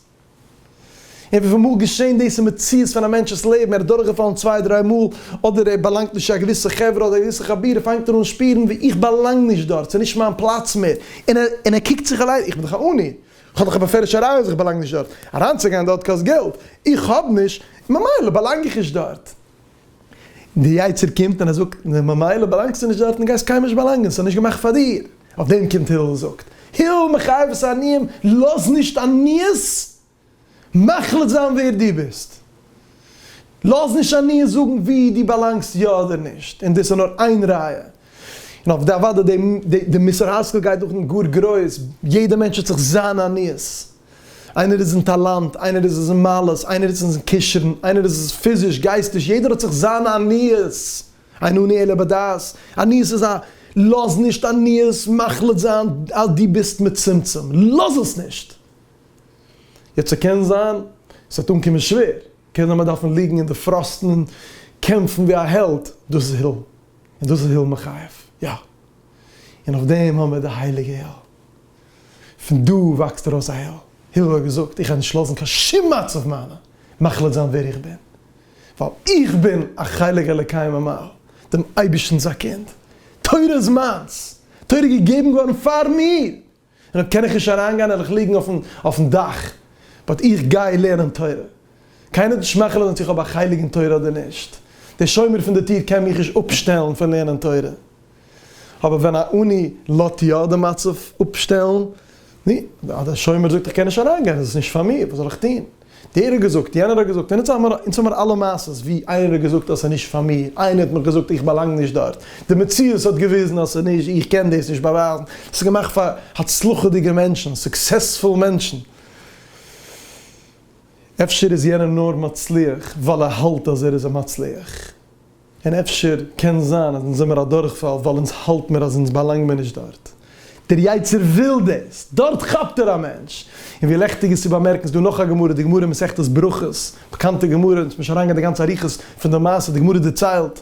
און וויפיל מאל געשען דאס אין מציאות פון א מענטש'ס לעבן, ער איז דורכגעפאלן צוויי דריי מאל, אדער ער באלאנגט נישט צו א געוויסע חברה אדער א געוויסע חבורה, פאנגט ער אן שפירן ווי איך באלאנג נישט דארט, ס'איז נישט מיין פלאץ מער, און ער קוקט זיך אליין, איך בין דאך א עני, איך האב דאך א באפעלישע ראיה אז איך באלאנג נישט דארט, אריינצוגיין דארט קאסט געלט, איך האב נישט, ממילא באלאנג איך נישט דארט. די יצר קומט און ער זאגט ממילא באלאנגסטו נישט דארטן גייסט קיינמאל נישט באלאנגען ס'איז נישט געמאכט פאר דיר, אויף דעם קומט הלל און זאגט הלל מחייב את העניים לאז נישט עניות מחליט זיין ווער דו ביסט, לאז נישט עניות זאגן וואו דו באלאנגסט יא אדער נישט, און דאס איז נאר איין ראיה און אויף די אוואדע די מוסר השכל גייט דורכן גאר גרויס, יעדע מענטש האט זיך זיינע עניות, איינער איז אין טאלאנט, איינער איז עס אין מעלות, איינער איז עס אין קשר'ן, איינער איז עס פיזיש, גייסטיש, יעדער האט זיך זיינע עניות, אין עני אלא בדעת, עניות איז א, לאז נישט עניות מחליט זיין אז דו ביסט מצומצם, לאז עס נישט! יעצט ס'קען זיין ס'וועט אנקומען שווער, קען זיין מ'וועט דארפן ליגן אין די פראסטן און קעמפן ווי א העלד, דאס איז הילל. און דאס איז היל מחייב, יא. און אויף דעם האבן מיר די הייליגע היל. פון דא וואקסט ארויס א היל. הילל האט געזאגט, איך וועל נישט לאזן קיין שום מצב מיינע מחליט זיין ווער איך בין. ווייל איך בין א חלק אלוקי ממעל, דעם אייבערשטנ'ס א קינד. תורה איז מיינס. תורה איז געגעבן געווארן פאר מיר. און אויב קען איך נישט אריינגיין העל איך ליגן אויפן דאך, באט איך גיי לערנען תורה. קיינער האט נישט מאכעלעט אונז צו איך האב א חלק אין תורה אדער נישט. דער שומר פון די טיר קען מיך נישט אפשטעלן פון לערנען תורה. אבער ווען א עני לאט יא די מצב אפשטעלן, נו, דער שומר זאגט איך קען נישט אריינגיין איז עס נישט פאר מיר, וואס זאל איך טון? דער האט געזאגט, יענער האט געזאגט, און אונז האמער אונז האמער אלע מעשות ווי איינער האט געזאגט אז ס'איז נישט פאר מיר, איינער האט מיך געזאגט איך באלאנג נישט דארט, די מציאות האט געוויזן אז ס'איז נישט, איך קען דאס נישט באווייזן, דאס איז געמאכט פאר הצלחה'דיגע מענטשן, סוקסעספול מענטשן. אפשר איז יענער נאר מצליח ווייל ער האלט אז ער איז א מצליח. און אפשר קען זיין אז אונז זעמער א דורכפאל ווייל אונז האלט מיר אז אונז באלאנג מיר נישט דארט. דער יצר וויל דאס. דארט כאפט ער א מענטש. און ווי לעכטיג איז צו באמערקן, ס'דא נאך א גמרא, די גמרא אין מסכת ברכות, באקאנטע גמרא, אונז מוז נישט אריינגיין די גאנצע אריכות פון די מעשה, די גמרא דערציילט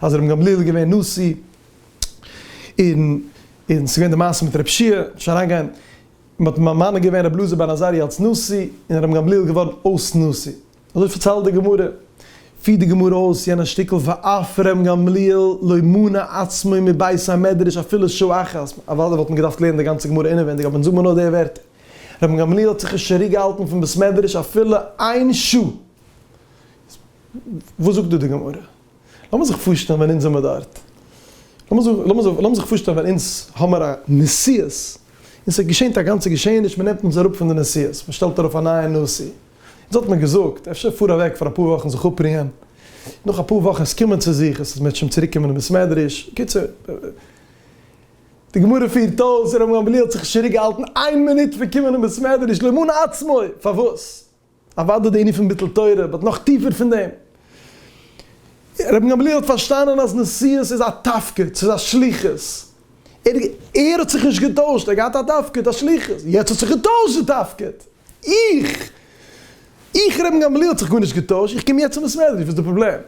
אז ר' גמליאל איז געווען נשיא, און און ס'געווען די מעשה מיט רב שיע, מ'מוז נישט אריינגיין, מ'האט ממנה געווען רבי אלעזר בן עזריה אלס נשיא, און ר' גמליאל איז געווארן אויס נשיא. אזוי פארציילט די גמרא, פירט די גמרא אויס יענע שטיקל ואף ר' גמליאל לא מנע עצמו מבית המדרש אפילו שעה אחת, אוודאי וואלט מען געדארפט לערנען די גאנצע גמרא אינעווענדיג אבער זאג מיר נאר די ווערטער, ר' גמליאל האט זיך נישט צוריק געהאלטן פון בית מדרש אפילו איין שעה! וואס זאגט דא די גמרא? לאמיר זיך פארשטעלן ווען אונז זעמיר דארט, לאמיר זיך פארשטעלן ווען אונז האמיר א נשיאות און ס'געשענט א גאנצע געשעעניש, מ'נעמט אונז אראפ פון די נשיאות, מ'שטעלט ארויף א נייע נשיא, אונז האט מען געזאגט, אפשר פאר אוועק פאר אפאר וואכן זיך אפרוען, נאך אפאר וואכן עס קומען צו זיך, עס מעט שוין צוריק קומען אין בית מדרש, בקיצור, די גמרא פירט אויס, ר' גמליאל האט זיך נישט צוריק געהאלטן איין מינוט פון קומען אין בית מדרש למען עצמו, פארוואס? אוודאי די ענין פון ביטול תורה, באט נאך טיפער פון דעם, ר' גמליאל האט פארשטאנען אז נשיאות איז א תפקיד, ס'איז א שליחות, ער האט זיך נישט געטוישט, ער האט געהאט א תפקיד, א שליחות, יעצט האט זיך געטוישט די תפקיד. איך! איך ר' גמליאל האט זיך גארנישט געטוישט, איך קום יעצט צום בית מדרש, וואס איז די פראבלעם?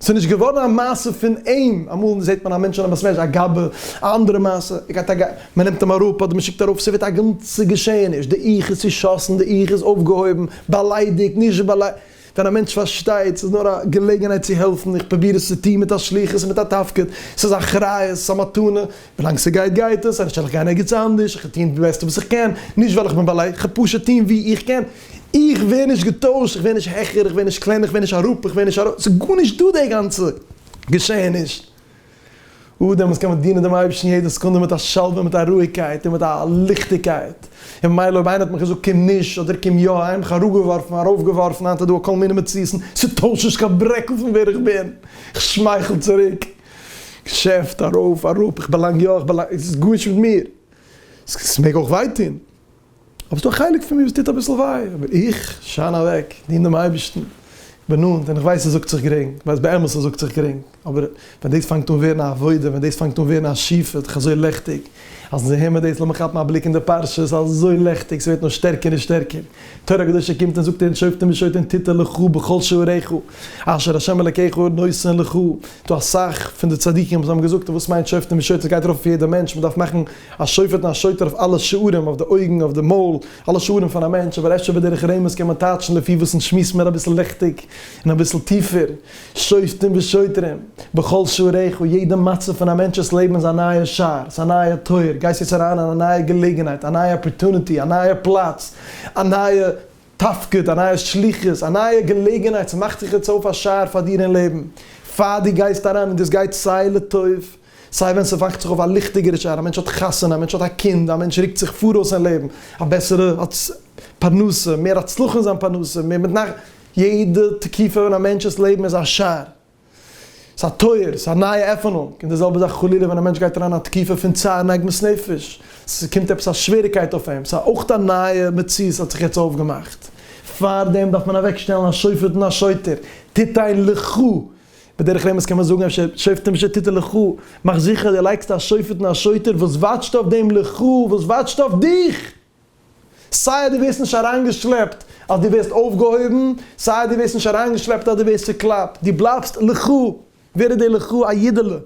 ס'איז נישט געווארן א מעשה פון אים, אמאל זעט מען א מענטש אין א בית מדרש א גאבע, א אנדערע מעשה, ער גייט א גאבע, מען נעמט אים אראפ אדער מען שיקט ארויף, ס'ווערט א גאנצע געשעעניש, די איך איז צושאסן, די איך איז אויפגעהויבן, באליידיגט, נישט באליידיגט. ווען א מענטש פארשטייט ס'איז נאר א געלעגנהייט צו העלפן, איך פרוביר עס צו טון מיט א שליחות און מיט א תפקיד, ס'איז א אחריות, ס'איז א מתנה, ווילאנג ס'גייט גייט עס, אנישט וועל איך גיין ערגעץ אנדערש, איך וועל טון די בעסטע וואס איך קען, נישט ווייל איך בין בעל ה', כ'וועל פשוט טון ווי איך קען, איך ווער נישט געטוישט, איך ווער נישט העכער, איך ווער נישט קלענער, איך ווער נישט אראפ, איך ווער נישט ארויף, ס'איז גארנישט דא די גאנצע געשעעניש. אט דעמאלס קען מען דינען דעם אייבערשטן יעדע סעקונדע מיט א שלווה און מיט א רואיגקייט און מיט א ליכטיגקייט, און ממילא אויב איינער האט מיך געזאגט קום נישט אדער קום יא, האב איך מיך אראפגעווארפן, ארויפגעווארפן, היינט איז דא כל מיני מציאות'ן, ס'טוישט נישט קיין ברעקל פון ווער איך בין, איך שמייכל צוריק, געשעפט, ארויף, אראפ, איך באלאנג יא, איך באלאנג, ס'איז גארנישט מיט מיר, ס'מעג אויך וויי טון. אבער ס'דא א חלק פון מיר וואס טוט אביסל וויי, אבער איך שיין אוועק, דין דעם אייבערשטן, איך בין נאנט און איך ווייס ס'זאגט זיך גרינג, איך ווייס באמת ס'זאגט זיך גרינג, אבער ווען דאס פאנגט אן ווערן א עבודה, ווען דאס פאנגט אן ווערן א שיפוט, איך אזוי לעכטיג, אז זיי העמער דאס, לאמיר כאפן א בליק אין די פרשה, ס'איז אזוי לעכטיג, ס'ווערט נאר שטערקער און שטערקער, תורה קדושה קומט און זאגט אונז שופטים ושוטרים תיתן לך בכל שעריך, אשר השם אלקיך נותן לך, דא אסאך פון די צדיקים וואס האבן געזאגט וואס מיינט שופטים ושוטרים, ס'גייט ארויף אויף יעדע מענטש, מ'דארף מאכן א שופט און א שוטר אויף אלע שערים, אויף די אויגן, אויף די מויל, אלע שערים פון א מענטש, אבער אפשר בדרך רמז קען מען טייטשן לפי וואס אונז שמועסן מער אביסל ליכטיג און אביסל טיפער, שופטים ושוטרים, בכל שעריך, יעדע מצב פון א מענטש'ס לעבן איז א נייע שער, ס'איז א נייע טויער, גייסט יעצט אריין אין א נייע געלעגנהייט, א נייע אפערטוניטי, א נייע פלאץ, א נייע תפקיד, א נייע שליחות, א נייע געלעגנהייט, ס'מאכט זיך יעצט אויף א שער פאר דיר אין לעבן, פאר דו גייסט אריין און דאס גייט סיי לטוב, סיי ווען ס'וואכט זיך אויף א ליכטיגערע שער, א מענטש האט חתונה, א מענטש האט א קינד, א מענטש רוקט זיך פאראויס אין לעבן, א בעסערע פרנסה, מער הצלחה אין זיין פרנסה, מער מיט נחת, יעדע תקופה אין א מענטש'ס לעבן איז א שער, ס'איז א טויער, ס'איז א נייע עפענונג, און די זעלבע זאך חלילה ווען א מענטש גייט אריין אין א תקופה פון צער און עגמת נפש, ס'קומט עפעס א שוועריקייט אויף אים, ס'איז אויך א נייע מציאות האט זיך יעצט אויפגעמאכט, פארדעם דארף מען אוועקשטעלן א שופט און א שוטר, תיתן לך. בדרך רמז קען מען זאגן אפשר שופטים שתיתן לך, מאך זיכער דו לייגסט א שופט און א שוטר וואס וואטשט אויף דעם לך, וואס וואטשט אויף דיך! סיי אז דו ווערסט נישט אריינגעשלעפט אז דו ווערסט אויפגעהויבן, סיי אז דו ווערסט נישט אריינגעשלעפט אז דו ווערסט צעקלאפט, דו בלייבסט לך! ווער איז דער לך? א אידעלע!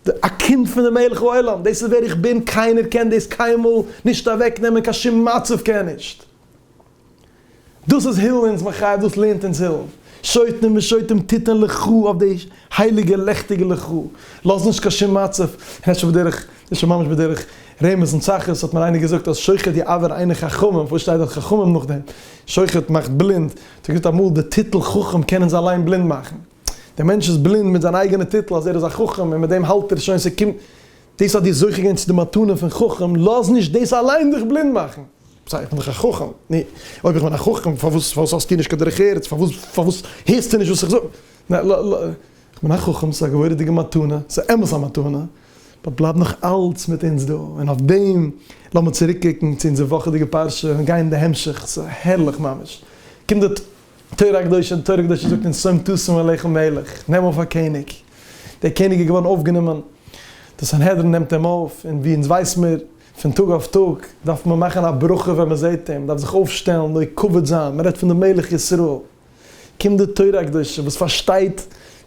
א קינד פון די מלך העולם, דאס איז ווער איך בין, קיינער קען דאס קיינמאל נישט אוועקנעמען, קיין שום מצב קען נישט. דאס איז הילל אונז מחייב, דאס לערנט אונז הילל. שוטים ושוטים תתן לך אויף די הייליגע לעכטיגע לך, לאז נישט קיין שום מצב, און אפשר בדרך, דאס שוין ממש בדרך רמז און צחות, האט מיר איינער געזאגט אז שוחט יעוור עיני חכמים, פארוואס שטייט דארט חכמים נאכדעם? שוחט מאכט בלינד, האט ער געזאגט אמאל די טיטל חכם קען אונז אליין בלינד מאכן. דער מענטש איז בלינד מיט זיין אייגענע טיטל אז ער איז א חכם און מיט דעם האלט ער שוין ס'קומט דאס האט דיר זוכה געווען צו די מתנה פון חכם, לאז נישט דאס אליין דיך בלינד מאכן. סא איך בין דאך א חכם, נו אויב איך בין א חכם פארוואס פארוואס האסטו נישט קיין דרך ארץ, פארוואס פארוואס הערסטו נישט וואס איך זאג, ניין לא לא איך בין א חכם ס'איז א גבורה'דיגע מתנה, ס'איז אמת א מתנה, באט בלייב נאך אלץ מיט אונז דא, און אויף דעם לאמיר צוריק קוקן צו אונזער וואכעדיגע פרשה און גיין די המשך, ס'הערליך ממש, קומט די. תורה הקדושה, די תורה הקדושה זאגט אונז שום תשים אליך מלך, נעם אויף א קעניג, דער קעניג איז געווארן אויפגענומען, די סנהדרין נעמט אים אויף, און ווי אונז ווייס מיר, פון טאג אויף טאג דארף מען מאכן א ברכה ווען מען זעט אים, מען דארף זיך אויפשטעלן, נוהג כבוד זיין, מען רעדט פון די מלך ישראל, קומט די תורה הקדושה וואס פארשטייט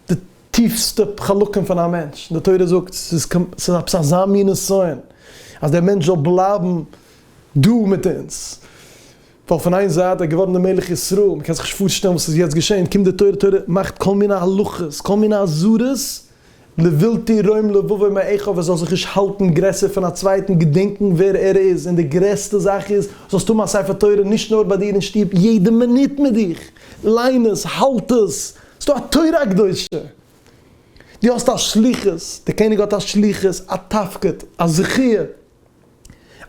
די טיפסטע חלקים פון א מענטש, און די תורה זאגט, ס'איז קומ, ס'איז עפעס אזא מין נסיון, אז דער מענטש זאל בלייבן דא מיט אונז. ווייל פון איין זייט ער איז געווארן דער מלך ישראל, מען קען זיך נישט פארשטעלן וואס איז יעצט געשען, קומט די תורה, תורה מאכט כל מיני הלכות, כל מיני אזהרות, לבלתי ירום לבבו מאחיו ער זאל זיך נישט האלטן גרעסער פון א צווייטן, געדענקן ווער ער איז, און די גרעסטע זאך איז, זאלסט האבן א ספר תורה נישט נאר ביי דיר אין שטוב, יעדע מינוט מיט דיך, ליין עס, האלט עס, ס'איז דא א תורה הקדושה, דו האסט א שליחות, דער קעניג האט א שליחות, א תפקיד, א זכיה,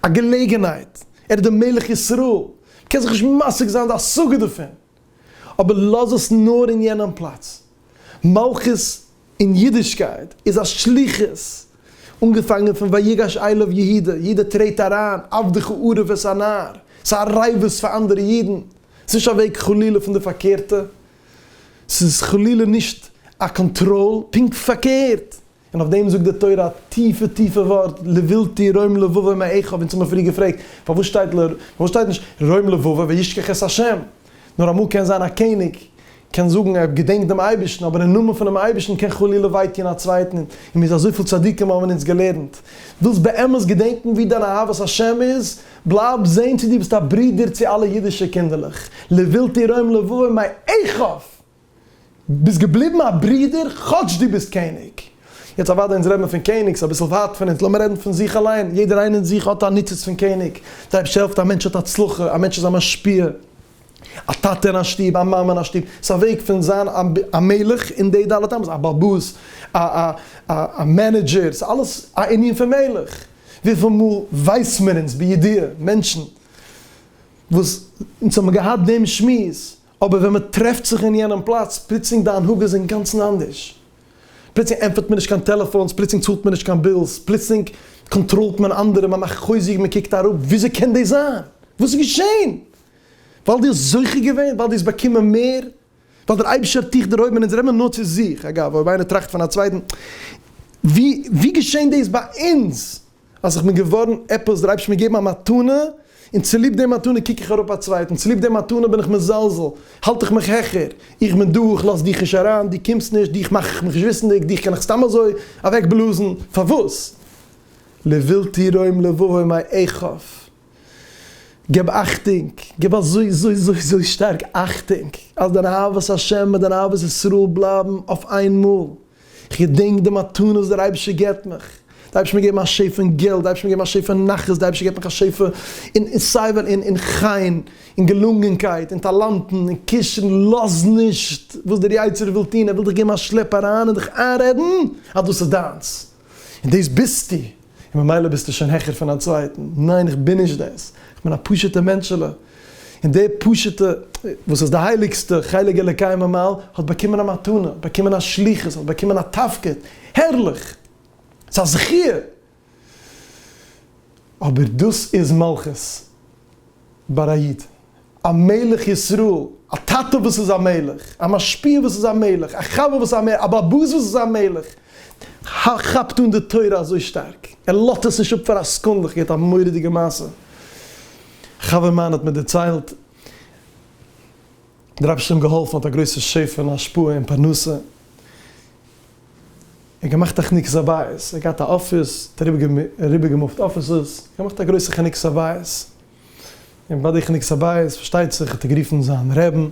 א געלעגענהייט, ער איז דער מלך ישראל, מ'קען זיך נישט משיג זיין די השגה דערפון, אבער לאז עס נאר אין יענעם פלאץ. מלכות אין אידישקייט איז א שליחות, אנגעפאנגען פון ויגש אליו יהודה, יעדער טרעט אריין, עבדך אערב את הנער, ס'איז א רעיוות פאר אנדערע אידן, ס'איז נישט א וועג חלילה פון די פארקערטע, ס'איז חלילה נישט א קאנטראל, פונקט פארקערט, און אויף דעם זאגט די תורה א טיפע טיפע ווארט, לבלתי רום לבבי מאחיו, אונז האבן מיר פריער געפרעגט, פארוואס שטייט ל, פארוואס שטייט נישט רום לבבי וישכח את השם? נאר אמאל קען זיין א קעניג קען זאגן ער געדענקט דעם אייבערשטן, אבער אין נאמען פונעם אייבערשטן קען חלילה וויי טון א צווייטן, און מיר זען אזויפיל צדיקים האבן אונז געלערנט, ווילסט באמת געדענקן ווי דיין אהבת השם איז, בלייב זען צי דו ביסט א ברודער צו אלע אידישע קינדערלעך, לבלתי רום לבבי מאחיו! ביסט געבליבן א ברודער כאטש דו ביסט קעניג. יעצט אוודאי אונז רעד מען פון קעניג ס'איז אביסל ווייט פון אונז לאמיר רעדן פון זיך אליין יעדער איינער אין זיך האט א ניצוץ פון קעניג די אייבשטער העלפט א מענטש האט הצלחה א מענטש איז א משפיע א טאטע אין א שטוב א מאמע אין א שטוב ס'איז א וועג פון זיין א מלך אין די ד' אמות א בעל בית א א א מענעדזשער ס'איז אלעס א ענין פון מלך וויפיל מאל ווייס מיר אונז בידיעה מענטשן וואס אונז האבן געהאט דעם שמועס אבער ווען מען טרעפט זיך אין יענעם פלאץ, פלוצלינג די הנהגה איז אינגאנצן אנדערש. פלוצלינג ענטפערט מען נישט קיין טעלעפאונס, פלוצלינג צאלט מען נישט קיין בילס, פלוצלינג קאנטראלט מען אנדערע, מען מאכט חוזק, מען קוקט אראפ, וויאזוי קען דאס זיין? וואס איז געשען? ווייל דו האסט זוכה געווען? ווייל דו האסט באקומען מער? ווייל דער אייבערשטער האט דיך דערהויבן? און אונז רעדט מען נאר צו זיך, אגב, אויב איינער טראכט פון א צווייטן, ווי געשען דאס ביי אונז? אז איך בין געווארן עפעס, דער אייבערשטער האט מיר געגעבן א מתנה, און צוליב די מתנה קוק איך אראפ א צווייטן, צוליב די מתנה בין איך מזלזל, האלט איך מיך העכער, איך בין דו, איך לאז דיך נישט אריין, דו קומסט נישט, דיך מאך איך מיך נישט וויסנדיג, דיך קען איך סתם אזוי אוועקבלאזן, פארוואס? לבלתי רום לבבו מאי איכף, געב אכטונג, געב אזוי אזוי אזוי אזוי שטארק אכטונג, אז דיין אהבת השם מיט דיין אהבת ישראל בלייבן אויף איינמאל. כ'געדענק די מתנות וואס דער אייבערשטער געבט מיך, די אייבערשטער האט מיר געגעבן א שפע אין געלט, די אייבערשטער האט מיר געגעבן א שפע אין נחת, די אייבערשטער געבט מיך א שפע אין סיי ווען, אין חן, אין געלונגענקייט, אין טאלאנטן, אין קשר'ן, לאז נישט וואס דער יצר הרע וויל טון, ער וויל דיך געבן א שלעפ אריין און דיך איינרעדן אז דאס איז דיינס, און דאס ביסטו. און ממילא ביסטו שוין העכער פון א צווייטן. ניין איך בין נישט דאס, איך בין א פשוט'ע מענטשעלע, און די פשוט'ע וואס איז די הייליגסטע חלק אלוקי ממעל האט באקומען א מתנה, האט באקומען א שליחות, האט באקומען א תפקיד, הערליך! ס'איז א זכיה! אבער דאס איז מלכות ביי א איד. א מלך ישראל, א טאטע וואס איז א מלך, א משפיע וואס איז א מלך, א חבר וואס איז א מלך, א באבוס וואס איז א מלך, כאפט אן די תורה אזוי שטארק, ער לאזט עס נישט אפ פאר א סעקונדע, איך געהערט א מורא'דיגע מעשה, א חבר מיינע האט מיר דערציילט, דער אייבערשטער האט אים געהאלפן, האט א גרויסע שפע און השפעה און פרנסה, ער האט געמאכט א כנוס הבית, ער האט געהאט א אפיס, ער האט אריבערגעמופט אפיסעס, געמאכט א גרויסע כנוס הבית. און ביי די כניקסא בית פארשטייט זיך האט ער גערופן זיין רעבן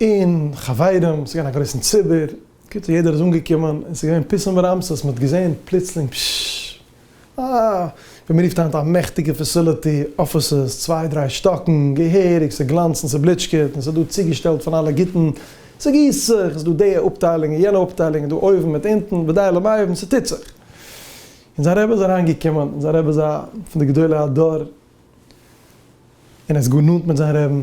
און חברים, ס'איז געווען א גרויסן ציבור, קיצור יעדער איז אנגעקומען און ס'איז געווען פיסם ורעמסס, מ'האט געזען פלוצלינג פששש אה ווי מ'רופט היינט א מעכטיגע פעסיליטי, אפיסעס צוויי דריי שטאקן געהעריג, ס'גלאנצט און ס'בליטשקעט און ס'איז דא צוגעשטעלט פון אלע גוטן, ס'גיסט זיך, ס'איז דא די אפטיילונג און יענע אפטיילונג און דא אויבן מיט אונטן, ודי למאי ווען ס'טוט זיך. און זיין רבי איז אריין געקומען, און זיין רבי איז א פון די גדולי הדור, און ער איז גאר נאנט מיט זיין רעבן,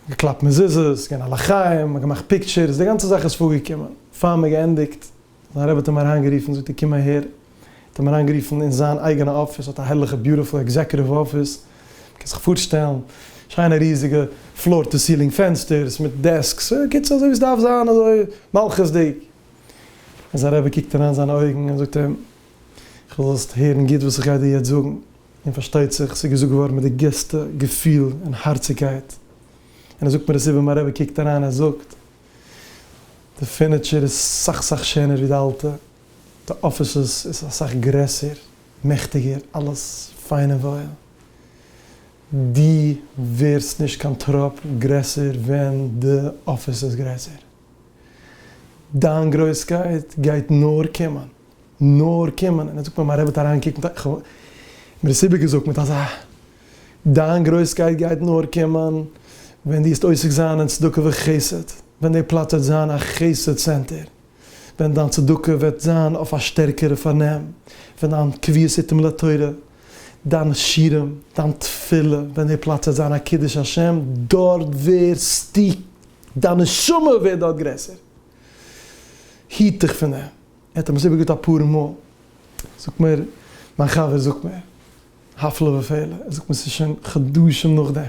געקלאפט מזוזות, געווען א לחיים, מ'האט געמאכט פיקטשערס, די גאנצע זאך איז פארגעקומען, פאר מ'האט געענדיגט, זיין רבי האט אים אריין גערופן, זאגט ער קום אהער, האט אים אריין גערופן אין זיין אייגענע אפיס, האט א הערליכע ביוטיפול עקזעקוטיוו אפיס, מ'קען זיך פארשטעלן, שיינע ריזיגע פלאר טו סילינג פענסטערס, מיט דעסקס, בקיצור אזוי ווי ס'דארף זיין, אזוי מלכות'דיג, זיין רבי קוקט אריין זיינע אויגן און זאגט אים, איך וויל זאלסט הערן גוט וואס איך גיי דיר יעצט זאגן, און פארשטייט זיך ס'איז געזאגט געווארן מיט די גרעסטע געפיל און הארציגקייט, און ער זאגט מיר עס איבער, מיין רבי קוקט אריין און זאגט, די פורניטשער איז סאך סאך שענער ווי די אלטע, די אפיסעס איז אסאך גרעסער, מעכטיגער, אלעס פיין און וואויל, דו ווערסט נישט קיין טראפ גרעסער ווען די אפיס איז גרעסער. דיין גרויסקייט גייט נאר קומען, נאר קומען, און ער זאגט מיר מיין רבי האט אריינגעקוקט, איך האב אים דאס איבערגעזאגט מיט אזא, דיין גרויסקייט גייט נאר קומען ווען דו וועסט עוסק זיין אין צדקה וחסד, ווען די פלאץ וועט זיין א חסד צענטער, ווען דיין צדקה וועט זיין אויף א שטערקערע פארנעם, ווען דיין קביעות עתים לתורה, דיינע שירים, דיין תפילה, ווען די פלאץ וועט זיין א קידוש השם, דארט ווערסטו דיין נשמה ווערט דארט גרעסער. היט דיך פון דעם. ער האט אים עס איבערגעהאט אפאר מאל. זאגט מיר מיין חבר, זאגט מיר, הפלא ופלא, ער זאגט מיר ס'איז שוין חדשים נאכדעם,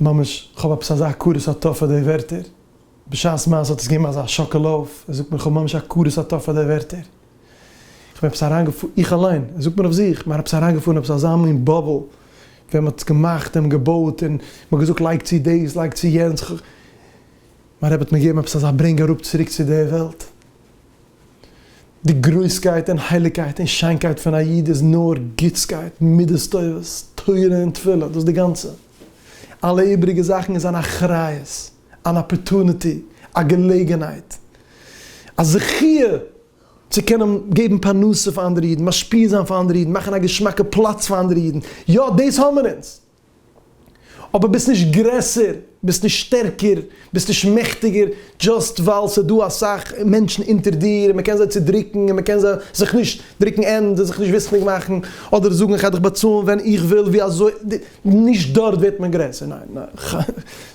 ממש כ'האב עפעס אזא הכרת הטוב פאר די ווערטער, בשעת מעשה האט עס געגעבן אזא שאקעל אויף, ער זאגט מיר כ'האב ממש הכרת הטוב פאר די ווערטער. איך בין עפעס אריינגעפארן, איך אליין, עס זאגט מען אויף זיך, מען עפעס אריינגעפארן עפעס אזא מין באבל, ווען מען האט עס געמאכט און געבויט און מען האט געזאגט לייג צו דאס, לייג צו יענץ, כ'הא. מיין רבי האט מיר געגעבן עפעס אזא ברענג אראפ צוריק צו די וועלט. די גרויסקייט און הייליגקייט און שיינקייט פון א איד איז נאר גוטסקייט, מידות טובות, תורה און תפילה, דאס איז די גאנצע. אלע איבריגע זאכן איז אן אחריות. אן אפערטוניטי, א געלעגנהייט, א זכיה צו קענען געבן פרנסה פאר אנדערע אידן, משפיע זיין פאר אנדערע אידן, מאכן א געשמאקע פלאץ פאר אנדערע אידן, יא דאס האמיר אונז, אבער ביסט נישט גרעסער, ביסט נישט שטערקער, ביסט נישט מעכטיגער, דזשאסט ווייל ס'איז דא אסאך מענטשן אונטער דיר און מ'קען זיי צודרוקן און מ'קען זיי זיך נישט דרוקן ענד און זיך נישט וויסנדיג מאכן, אדער זאגן איך גיי דיך באצאלן ווען איך וויל, ווי אזוי. נישט דארט ווערט מען גרעסער, ניין ניין,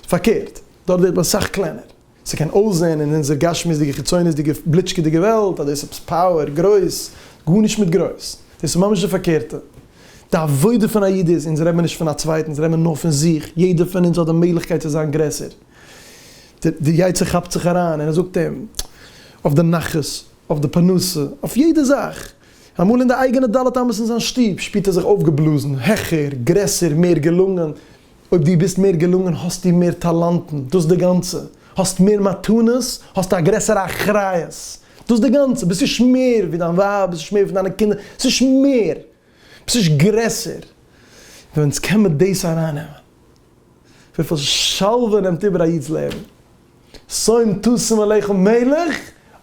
פארקערט, דארט ווערט מען סאך קלענער. ס'קען אויסזען אין אונזער גשמיות'דיגע חיצוניות'דיגע בליטשקעדיגע וועלט אז דאס איז עפעס פאוער, גרויס, גארנישט מיט גרויס, דאס איז ממש די פארקערטע. די עבודה פון א איד איז, אונז רעדט מען נישט פון א צווייטן, אונז רעדט מען נאר פון זיך, יעדער פון אונז האט די מעגליכקייט צו זיין גרעסער. די יצר כאפט זיך אריין און ער זאגט אים אויף די נחת, אויף די פרנסה, אויף יעדע זאך. אמאל אין די אייגענע ד' אמות אין זיין שטוב שפירט ער זיך אויפגעבלאזן, העכער, גרעסער, מער געלונגען. אויב דו ביסט מער געלונגען האסטו מער טאלאנטן, דאס די גאנצע. האסט מער מתנות, האסטו א גרעסערע אחריות. דאס די גאנצע. ביסט נישט מער ווי דיין ווייב, ביסט נישט מער פון דיינע קינדער, ביסט נישט מער, ביסט נישט גרעסער. ווען אונז קען מיר דאס ארייננעמען, וויפיל שלווה נעמט איבער א איד'ס לעבן. שמים תשים עליך מלך,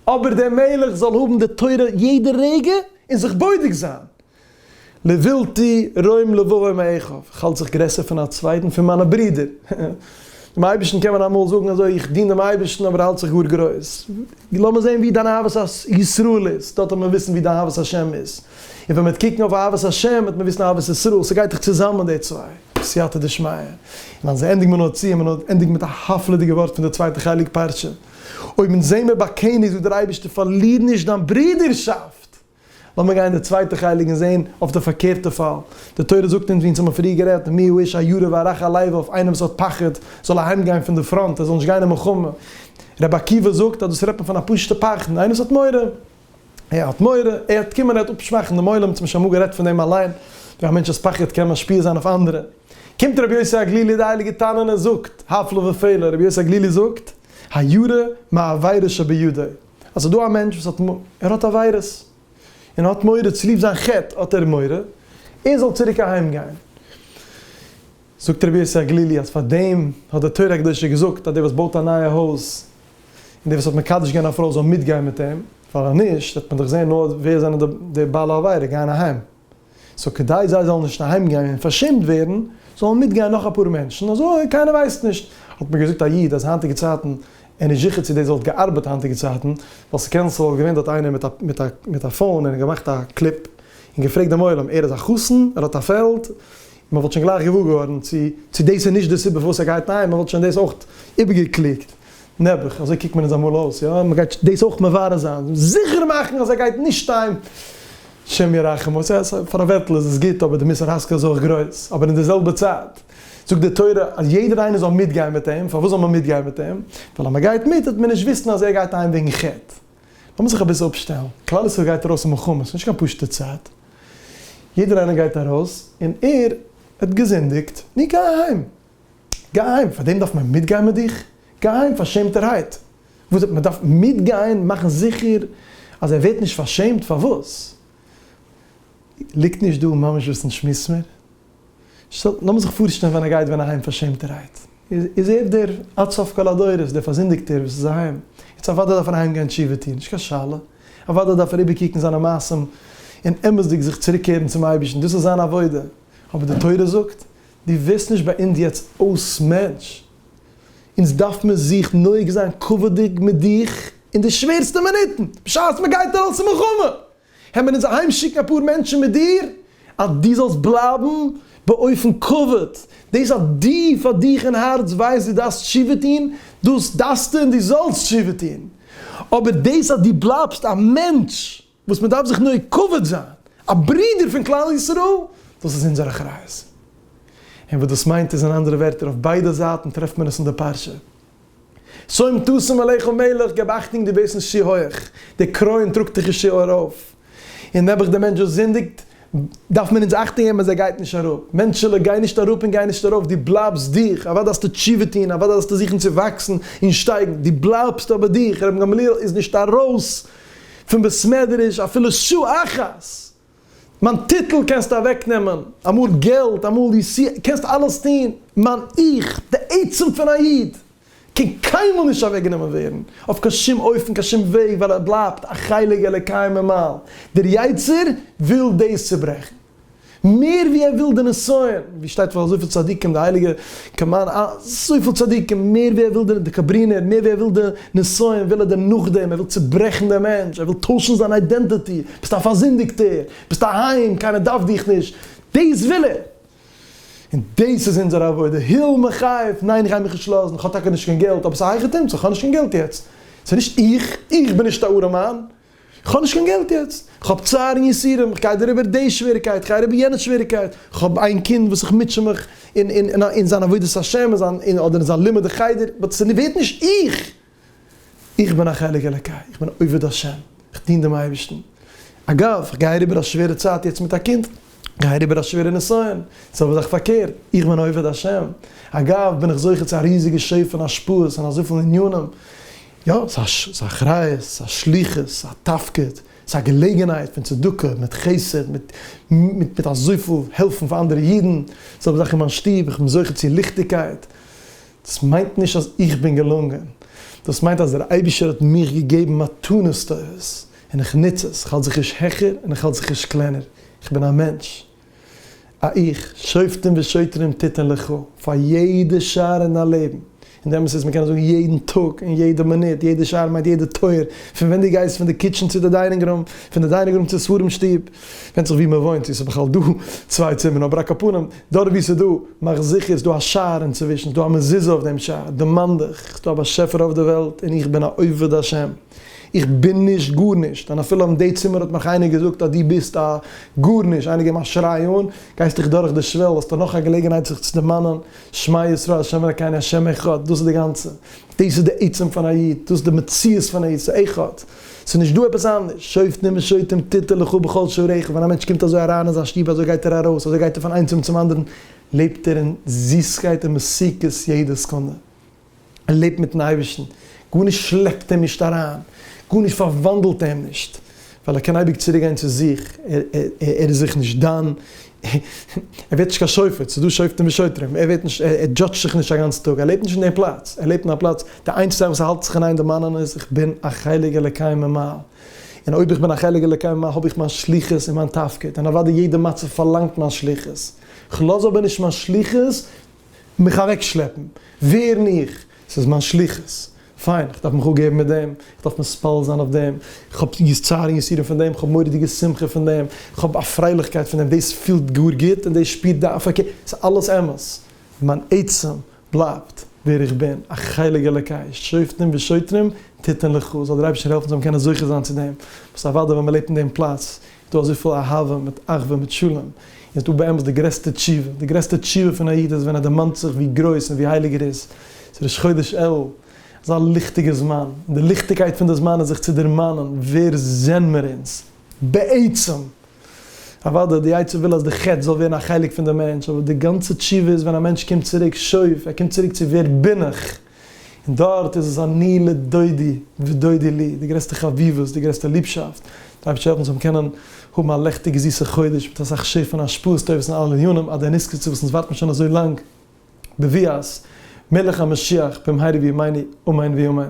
אבער דער מלך זאל האבן די תורה יעדע רגע און זיך בודק זיין. לבלתי רואים לבבם מאחיו, איך האלט זיך גרעסער פון א צווייטן, פון מיינע ברידער. דעם אייבערשטן קען מען אמאל זאגן אזוי, איך דין דעם אייבערשטן אבער האלט זיך גאר גרויס. לאמיר זען ווי דיין אהבת ישראל איז, דארט וועט מען וויסן ווי דיין אהבת השם איז. און ווען מען וועט קוקן אויף אהבת השם וועט מען וויסן אהבת ישראל, ס'גייט דאך צוזאמען די צוויי, סייעתא דשמיא. און אז מען ענדיגט מען נאר צו, מען ענדיגט מיט א הפלא'דיגע ווארט פון די צווייטע חלק פרשה, אויב אונז זעמער באקענער זאגט דער אייבערשטער פארליר נישט דיין ברודערשאפט. לאמיר גיין אין די צווייטע חלק און זען אויף די פארקערטע פאל, די תורה זאגט אונז ווי אונז האבן פריער גערעדט, מי הוא האיש הירא והרך הלב אויף איינער וואס האט פחד זאל אהיים גיין פון די פראנט, ער זאל נישט גיין אין מלחמה. רבי עקיבא זאגט אז דאס רעדט מען פון א פשוט'ע פחדן, איינער וואס האט מורא. ער האט מורא, ער וועט קומען ער וועט אפשוואכן דעם עולם, צום שמגר רעדט פון דעם אליין, ווי א מענטש'ס פחד קען משפיע זיין אויף אנדערע. קומט רבי יוסי הגלילי די הייליגע תנא און ער זאגט, הפלא ופלא, רבי יוסי הגלילי זאגט, הירא מעבירות שבידו, אז ס'איז דא א מענטש וואס האט מורא, ער האט עבירות, און ער האט מורא, צוליב זיין חטא האט ער מורא, ער זאל צוריק אהיים גיין. זאגט רבי יוסי הגלילי אז פאר דעם האט די תורה הקדושה געזאגט אז דער וואס בויט א נייע הויז, און דער וואס האט מקדש געווען א פרוי זאל מיטגיין מיט אים, ווייל אז נישט וועט מען דאך זען נאר ווער זענען די בעלי עבירה גייען אהיים, סאו כדי זיי זאלן נישט אהיימגיין און פארשעמט ווערן, זאלן מיטגיין נאך אפאר מענטשן, אזוי קיינער ווייסט נישט, האט מיר געזאגט א איד אז היינטיגע צייטן, ער איז נישט זיכער צו דאס וואלט געארבעט היינטיגע צייטן, ווייל ס'קען ס'וואלט געווען דארט איינער מיט א פאון און געמאכט א קליפ און געפרעגט דעם עולם ער איז א חתן, ער האט א פעלד, מען וואלט שוין גלייך געוואר געווארן צו צו דאס איז נישט די סיבה פארוואס ער גייט אהיים, מען וואלט שוין דאס אויך איבערגעקלוגט, נעבעך, אזוי קוקט מען אונז אמאל אויס, יא, מען גייט דאס אויך מברר זיין, זיכער מאכן אז ער גייט נישט אהיים, השם ירחם, אוי סא סא, פאר א ווערטל איז עס גוט, אבער די מוסר השכל איז אויך גרויס, אבער אין די זעלבע צייט זאגט די תורה אז יעדער איינער זאל מיטגיין מיט אים, פארוואס זאל מען מיטגיין מיט אים? ווייל אז מען גייט מיט וועט מען נישט וויסן אז ער גייט אהיים וועגן חטא. לאמיר זיך אביסל אפשטעלן, כלל ישראל גייט ארויס אין מלחמה, ס'נישט קיין פשוטע צייט, יעדער איינער גייט ארויס, און ער האט געזינדיגט, נו גיי אהיים, גיי אהיים, פאר דעם דארף מען מיטגיין מיט דיך? גיי אהיים פארשעמטערהייט, וואס מען דארף מיטגיין מאכן זיכער אז ער ווערט נישט פארשעמט, פארוואס ליגט נישט דא ממש וואס אונז שמועס מיר? לאמיר זיך פארשטעלן ווען ער גייט ווען אהיים פארשעמטערהייט, איז ער דער עד סוף כל הדורות, דער פארזינדיגטער וואס איז אהיים, יעצט אוודאי דארף ער אהיים גיין תשובה טון, נישט קיין שאלה, אוודאי דארף ער איבערקוקן זיינע מעשים און אמת'דיג זיך צוריקקערן צום אייבערשטן, דאס איז זיין עבודה, אבער די תורה זאגט, דו ווערסט נישט ביי אונז יעצט אויס מענטש, אונז דארף מען זיך נוהג זיין כבוד'דיג מיט דיך אין די שווערסטע מינוטן, בשעת מען גייט ארויס אין מלחמה! העמער אונז אהיים שיקן אפאר מענטשן מיט דיר אז דו זאלסט בלייבן באופן קבוע, דאס אז דו פאר דיך אין הארץ ווייסט דו דארפסט תשובה טון, דאס דארפסטו און דו זאלסט תשובה טון, אבער דאס אז דו בלייבסט א מענטש וואס מען דארף זיך נוהג כבוד זיין, א ברודער פון כלל ישראל, דאס איז אונזער אחריות. און וואס דאס מיינט איז אין אנדערע ווערטער אויף ביידע זייטן טרעפט מען עס אין די פרשה. שוים תשים עליך ומלך, געב אכטונג דו ביסט נישט צו הויעך, די קרוין טראגט דיך נישט צו ארויף, און נעבעך די מענטש וואס זינדיגט דארף מען אונז אכטונג געבן אז ער גייט נישט אראפ, מענטשעלע גיי נישט אראפ און גיי נישט ארויף, דו בלייבסט דיך, אוודאי זאלסטו תשובה טון, אוודאי זאלסטו זוכן צו וואקסן און שטייגן, דו בלייבסט אבער דיך, רבן גמליאל איז נישט ארויס פון בית מדרש אפילו שעה אחת! מיין טיטל קענסטו אוועק נעמען, אמאל געלט, אמאל די סי, קענסט אלעס טון, מיין איך, די עצם פון א איד, קען קיינמאל נישט אוועק גענומען ווערן, אויף קיין שום אופן, קיין שום וועג, ווייל ער בלייבט א חלק אלוקי ממעל, דער יצר וויל דאס צוברעכן, מער ווי ער וויל די נסיון, ווי שטייט פון אזויפיל צדיקים, די הייליגע כמיין אזויפיל צדיקים, מער ווי ער וויל די דעקאברינער, מער ווי ער וויל די נסיון, וויל ער דעם נאכדעם, ער וויל צוברעכן דעם מענטש, ער וויל טוישן זיין איידענטעטי, ביסט א פארזינדיגטער, ביסט אהיים, קיינער דארף דיך נישט, דאס וויל ער! און דאס איז אונזער עבודה, היל מיך אויף, ניין איך גיי מיך נישט לאזן, כ'האב טאקע נישט קיין געלט, אבער ס'הייכערט אומצו, כ'האב נישט קיין געלט יעצט, ס'נישט איך, איך בין נישט א ארעמאן, כ'האב נישט קיין געלט יעצט, כ'האב צער און יסורים, כ'גיי דעריבער די שוועריקייט, כ'גיי אריבער יענע שוועריקייט, כ'האב איין קינד וואס איך מוטשע מיך אין זיין עבודת השם אדער אין זיין לימוד החדר, באט ס'ווערט נישט איך! איך בין א חלק אלוקי, איך בין עובד השם, כ'דין דעם אייבערשטן. אגב, כ'גיי אריבער א שווערע צייט יעצט מיט א קינד. גיי אריבער א שווערע נסיון, איז אבער זאך פארקערט, איך בין עובד השם, אגב בין איך זוכה צו א ריזיגע שפע און השפעות אין אזויפיל ענינים, יא, ס'איז א אחריות, ס'איז א שליחות, ס'איז א תפקיד, ס'איז א געלעגנהייט פון צדקה מיט חסד, מיט מיט אזויפיל העלפן פאר אנדערע אידן, איז אבער זאך אין מיין שטוב, איך בין זוכה צו ליכטיגקייט, דאס מיינט נישט אז איך בין געלונגען, דאס מיינט אז דער אייבישטער האט מיך געגעבן מתנות טובות, און איך נוץ עס, איך האלט זיך נישט העכער און איך האלט זיך נישט קלענער, איך בין א מענטש, א איך, שופטים ושוטרים תתן לך, פאר יעדע שער אין דיין לעבן, און די אמת איז מען קען עס זאגן יעדן טאג און יעדע מינוט, יעדע שער מיינט יעדע טויער, פון ווען דו גייסט פון די קיטשען צו די דיינינג רום, פון די דיינינג רום צו ספרים שטוב, ווענדט זיך ווי מען וואוינט צו עס איז בכלל דא צוויי צימערן, אבער א קאפנים, דארט ווי עס איז דא, מאך זיכער איז דא א שער אינצווישן, איז דא א מזוזה אויף דעם שער, דערמאן דיך, ס'איז דא א באשעפער אויף די וועלט און איך בין א עובד השם. איך בין נישט גארנישט, און אפילו אין די צימער האט מיך איינער געזאגט אז דו ביסט א גארנישט, איינער געבן א שריי אן, גייסט דיך דורך די שוועל, האסט נאך א געלעגנהייט זיך צו דערמאנען, שמע ישראל השם אלקינו השם אחד, דאס איז די גאנצע, דאס איז די עצם פון א איד, דאס איז די מציאות פון א איד, ס'איז אחד, ס'איז נישט דא עפעס אנדערש, שופטים ושוטים תיתי לך בכל שעריך, ווען א מענטש קומט אזוי אריין אין זיין שטוב אזוי גייט ער ארויס, אזוי גייט ער פון איין צימער צום אנדערן, לעבט ער אין זיסקייט און מסוכות יעדע סעקונדע. ער לעבט מיטן אייבערשטן, גארנישט שלעפט אים נישט אריין, גארנישט פארוואנדלט אים נישט, ווייל ער קען אייביג צוריק גיין צו זיך, ער איז זיך נישט דן, ער ווערט נישט קיין שופט, ס'איז דא שופטים ושוטרים, ער ווערט נישט, ער דזשאדזשט זיך נישט א גאנץ טאג, ער לעבט נישט אין דעם פלאץ, ער לעבט אין א פלאץ, די איינציגסטע זאך וואס ער האלט זיך אין איין דערמאנען איז, איך בין א חלק אלוקי ממעל, און אויב איך בין א חלק אלוקי ממעל האב איך מיין שליחות און מיין תפקיד, און אוודאי יעדע מצב פארלאנגט מיין שליחות, כ'לאז אבער נישט מיין שליחות מיך אוועקשלעפן, ווערן איך, ס'איז מיין שליחות, פיין, איך דארף מיך אפגעבן מיט דעם, איך דארף מתפלל זיין אויף דעם, איך האב צער און יסורים פון דעם, איך האב מורא'דיגע שמחה פון דעם, איך האב א פרייליכקייט פון דעם, דאס פילט גאר גוט און דאס שפירט די הפקה, ס'איז אלעס אמת, מיין עצם בלייבט ווער איך בין, א חלק אלוקי, שופטים ושוטרים תתן לך, זאל דער אייבערשטער העלפן זאל מען קענען זוכה זיין צו דעם, וואס אוודאי ווען מ'לעבט אין דעם פלאץ דא אזויפיל אהבה מיט אחווה מיט שלום, איז דא באמת די גרעסטע תשובה, די גרעסטע תשובה פון א איד איז ווען ער דערמאנט זיך ווי גרויס און ווי הייליג ער איז, ס'איז ראש חודש אלול, אזא ליכטיגע זמן, און די ליכטיגקייט פון די זמן איז זיך צו דערמאנען ווער זענען מיר אונז בעצם, אוודאי די יצר וויל אז די חטא זאל ווערן א חלק פון די מענטש, אבער די גאנצע תשובה איז ווען א מענטש קומט צוריק שוב, ער קומט צוריק צו ווער בין איך. און דארט איז עס אני לדודי ודודי לי, די גרעסטע חביבות, די גרעסטע ליבשאפט, די אייבערשטער העלף אונז זאלן קענען האבן א לעכטיגע זיסע חודש מיט אסאך שפע און השפעות טובות אין אלע ענינים, עד דעניס קצה וואס אונז ווארטן שוין אזוי לאנג בביאת מלך המשיח במהרה בימינו אמן ואמן.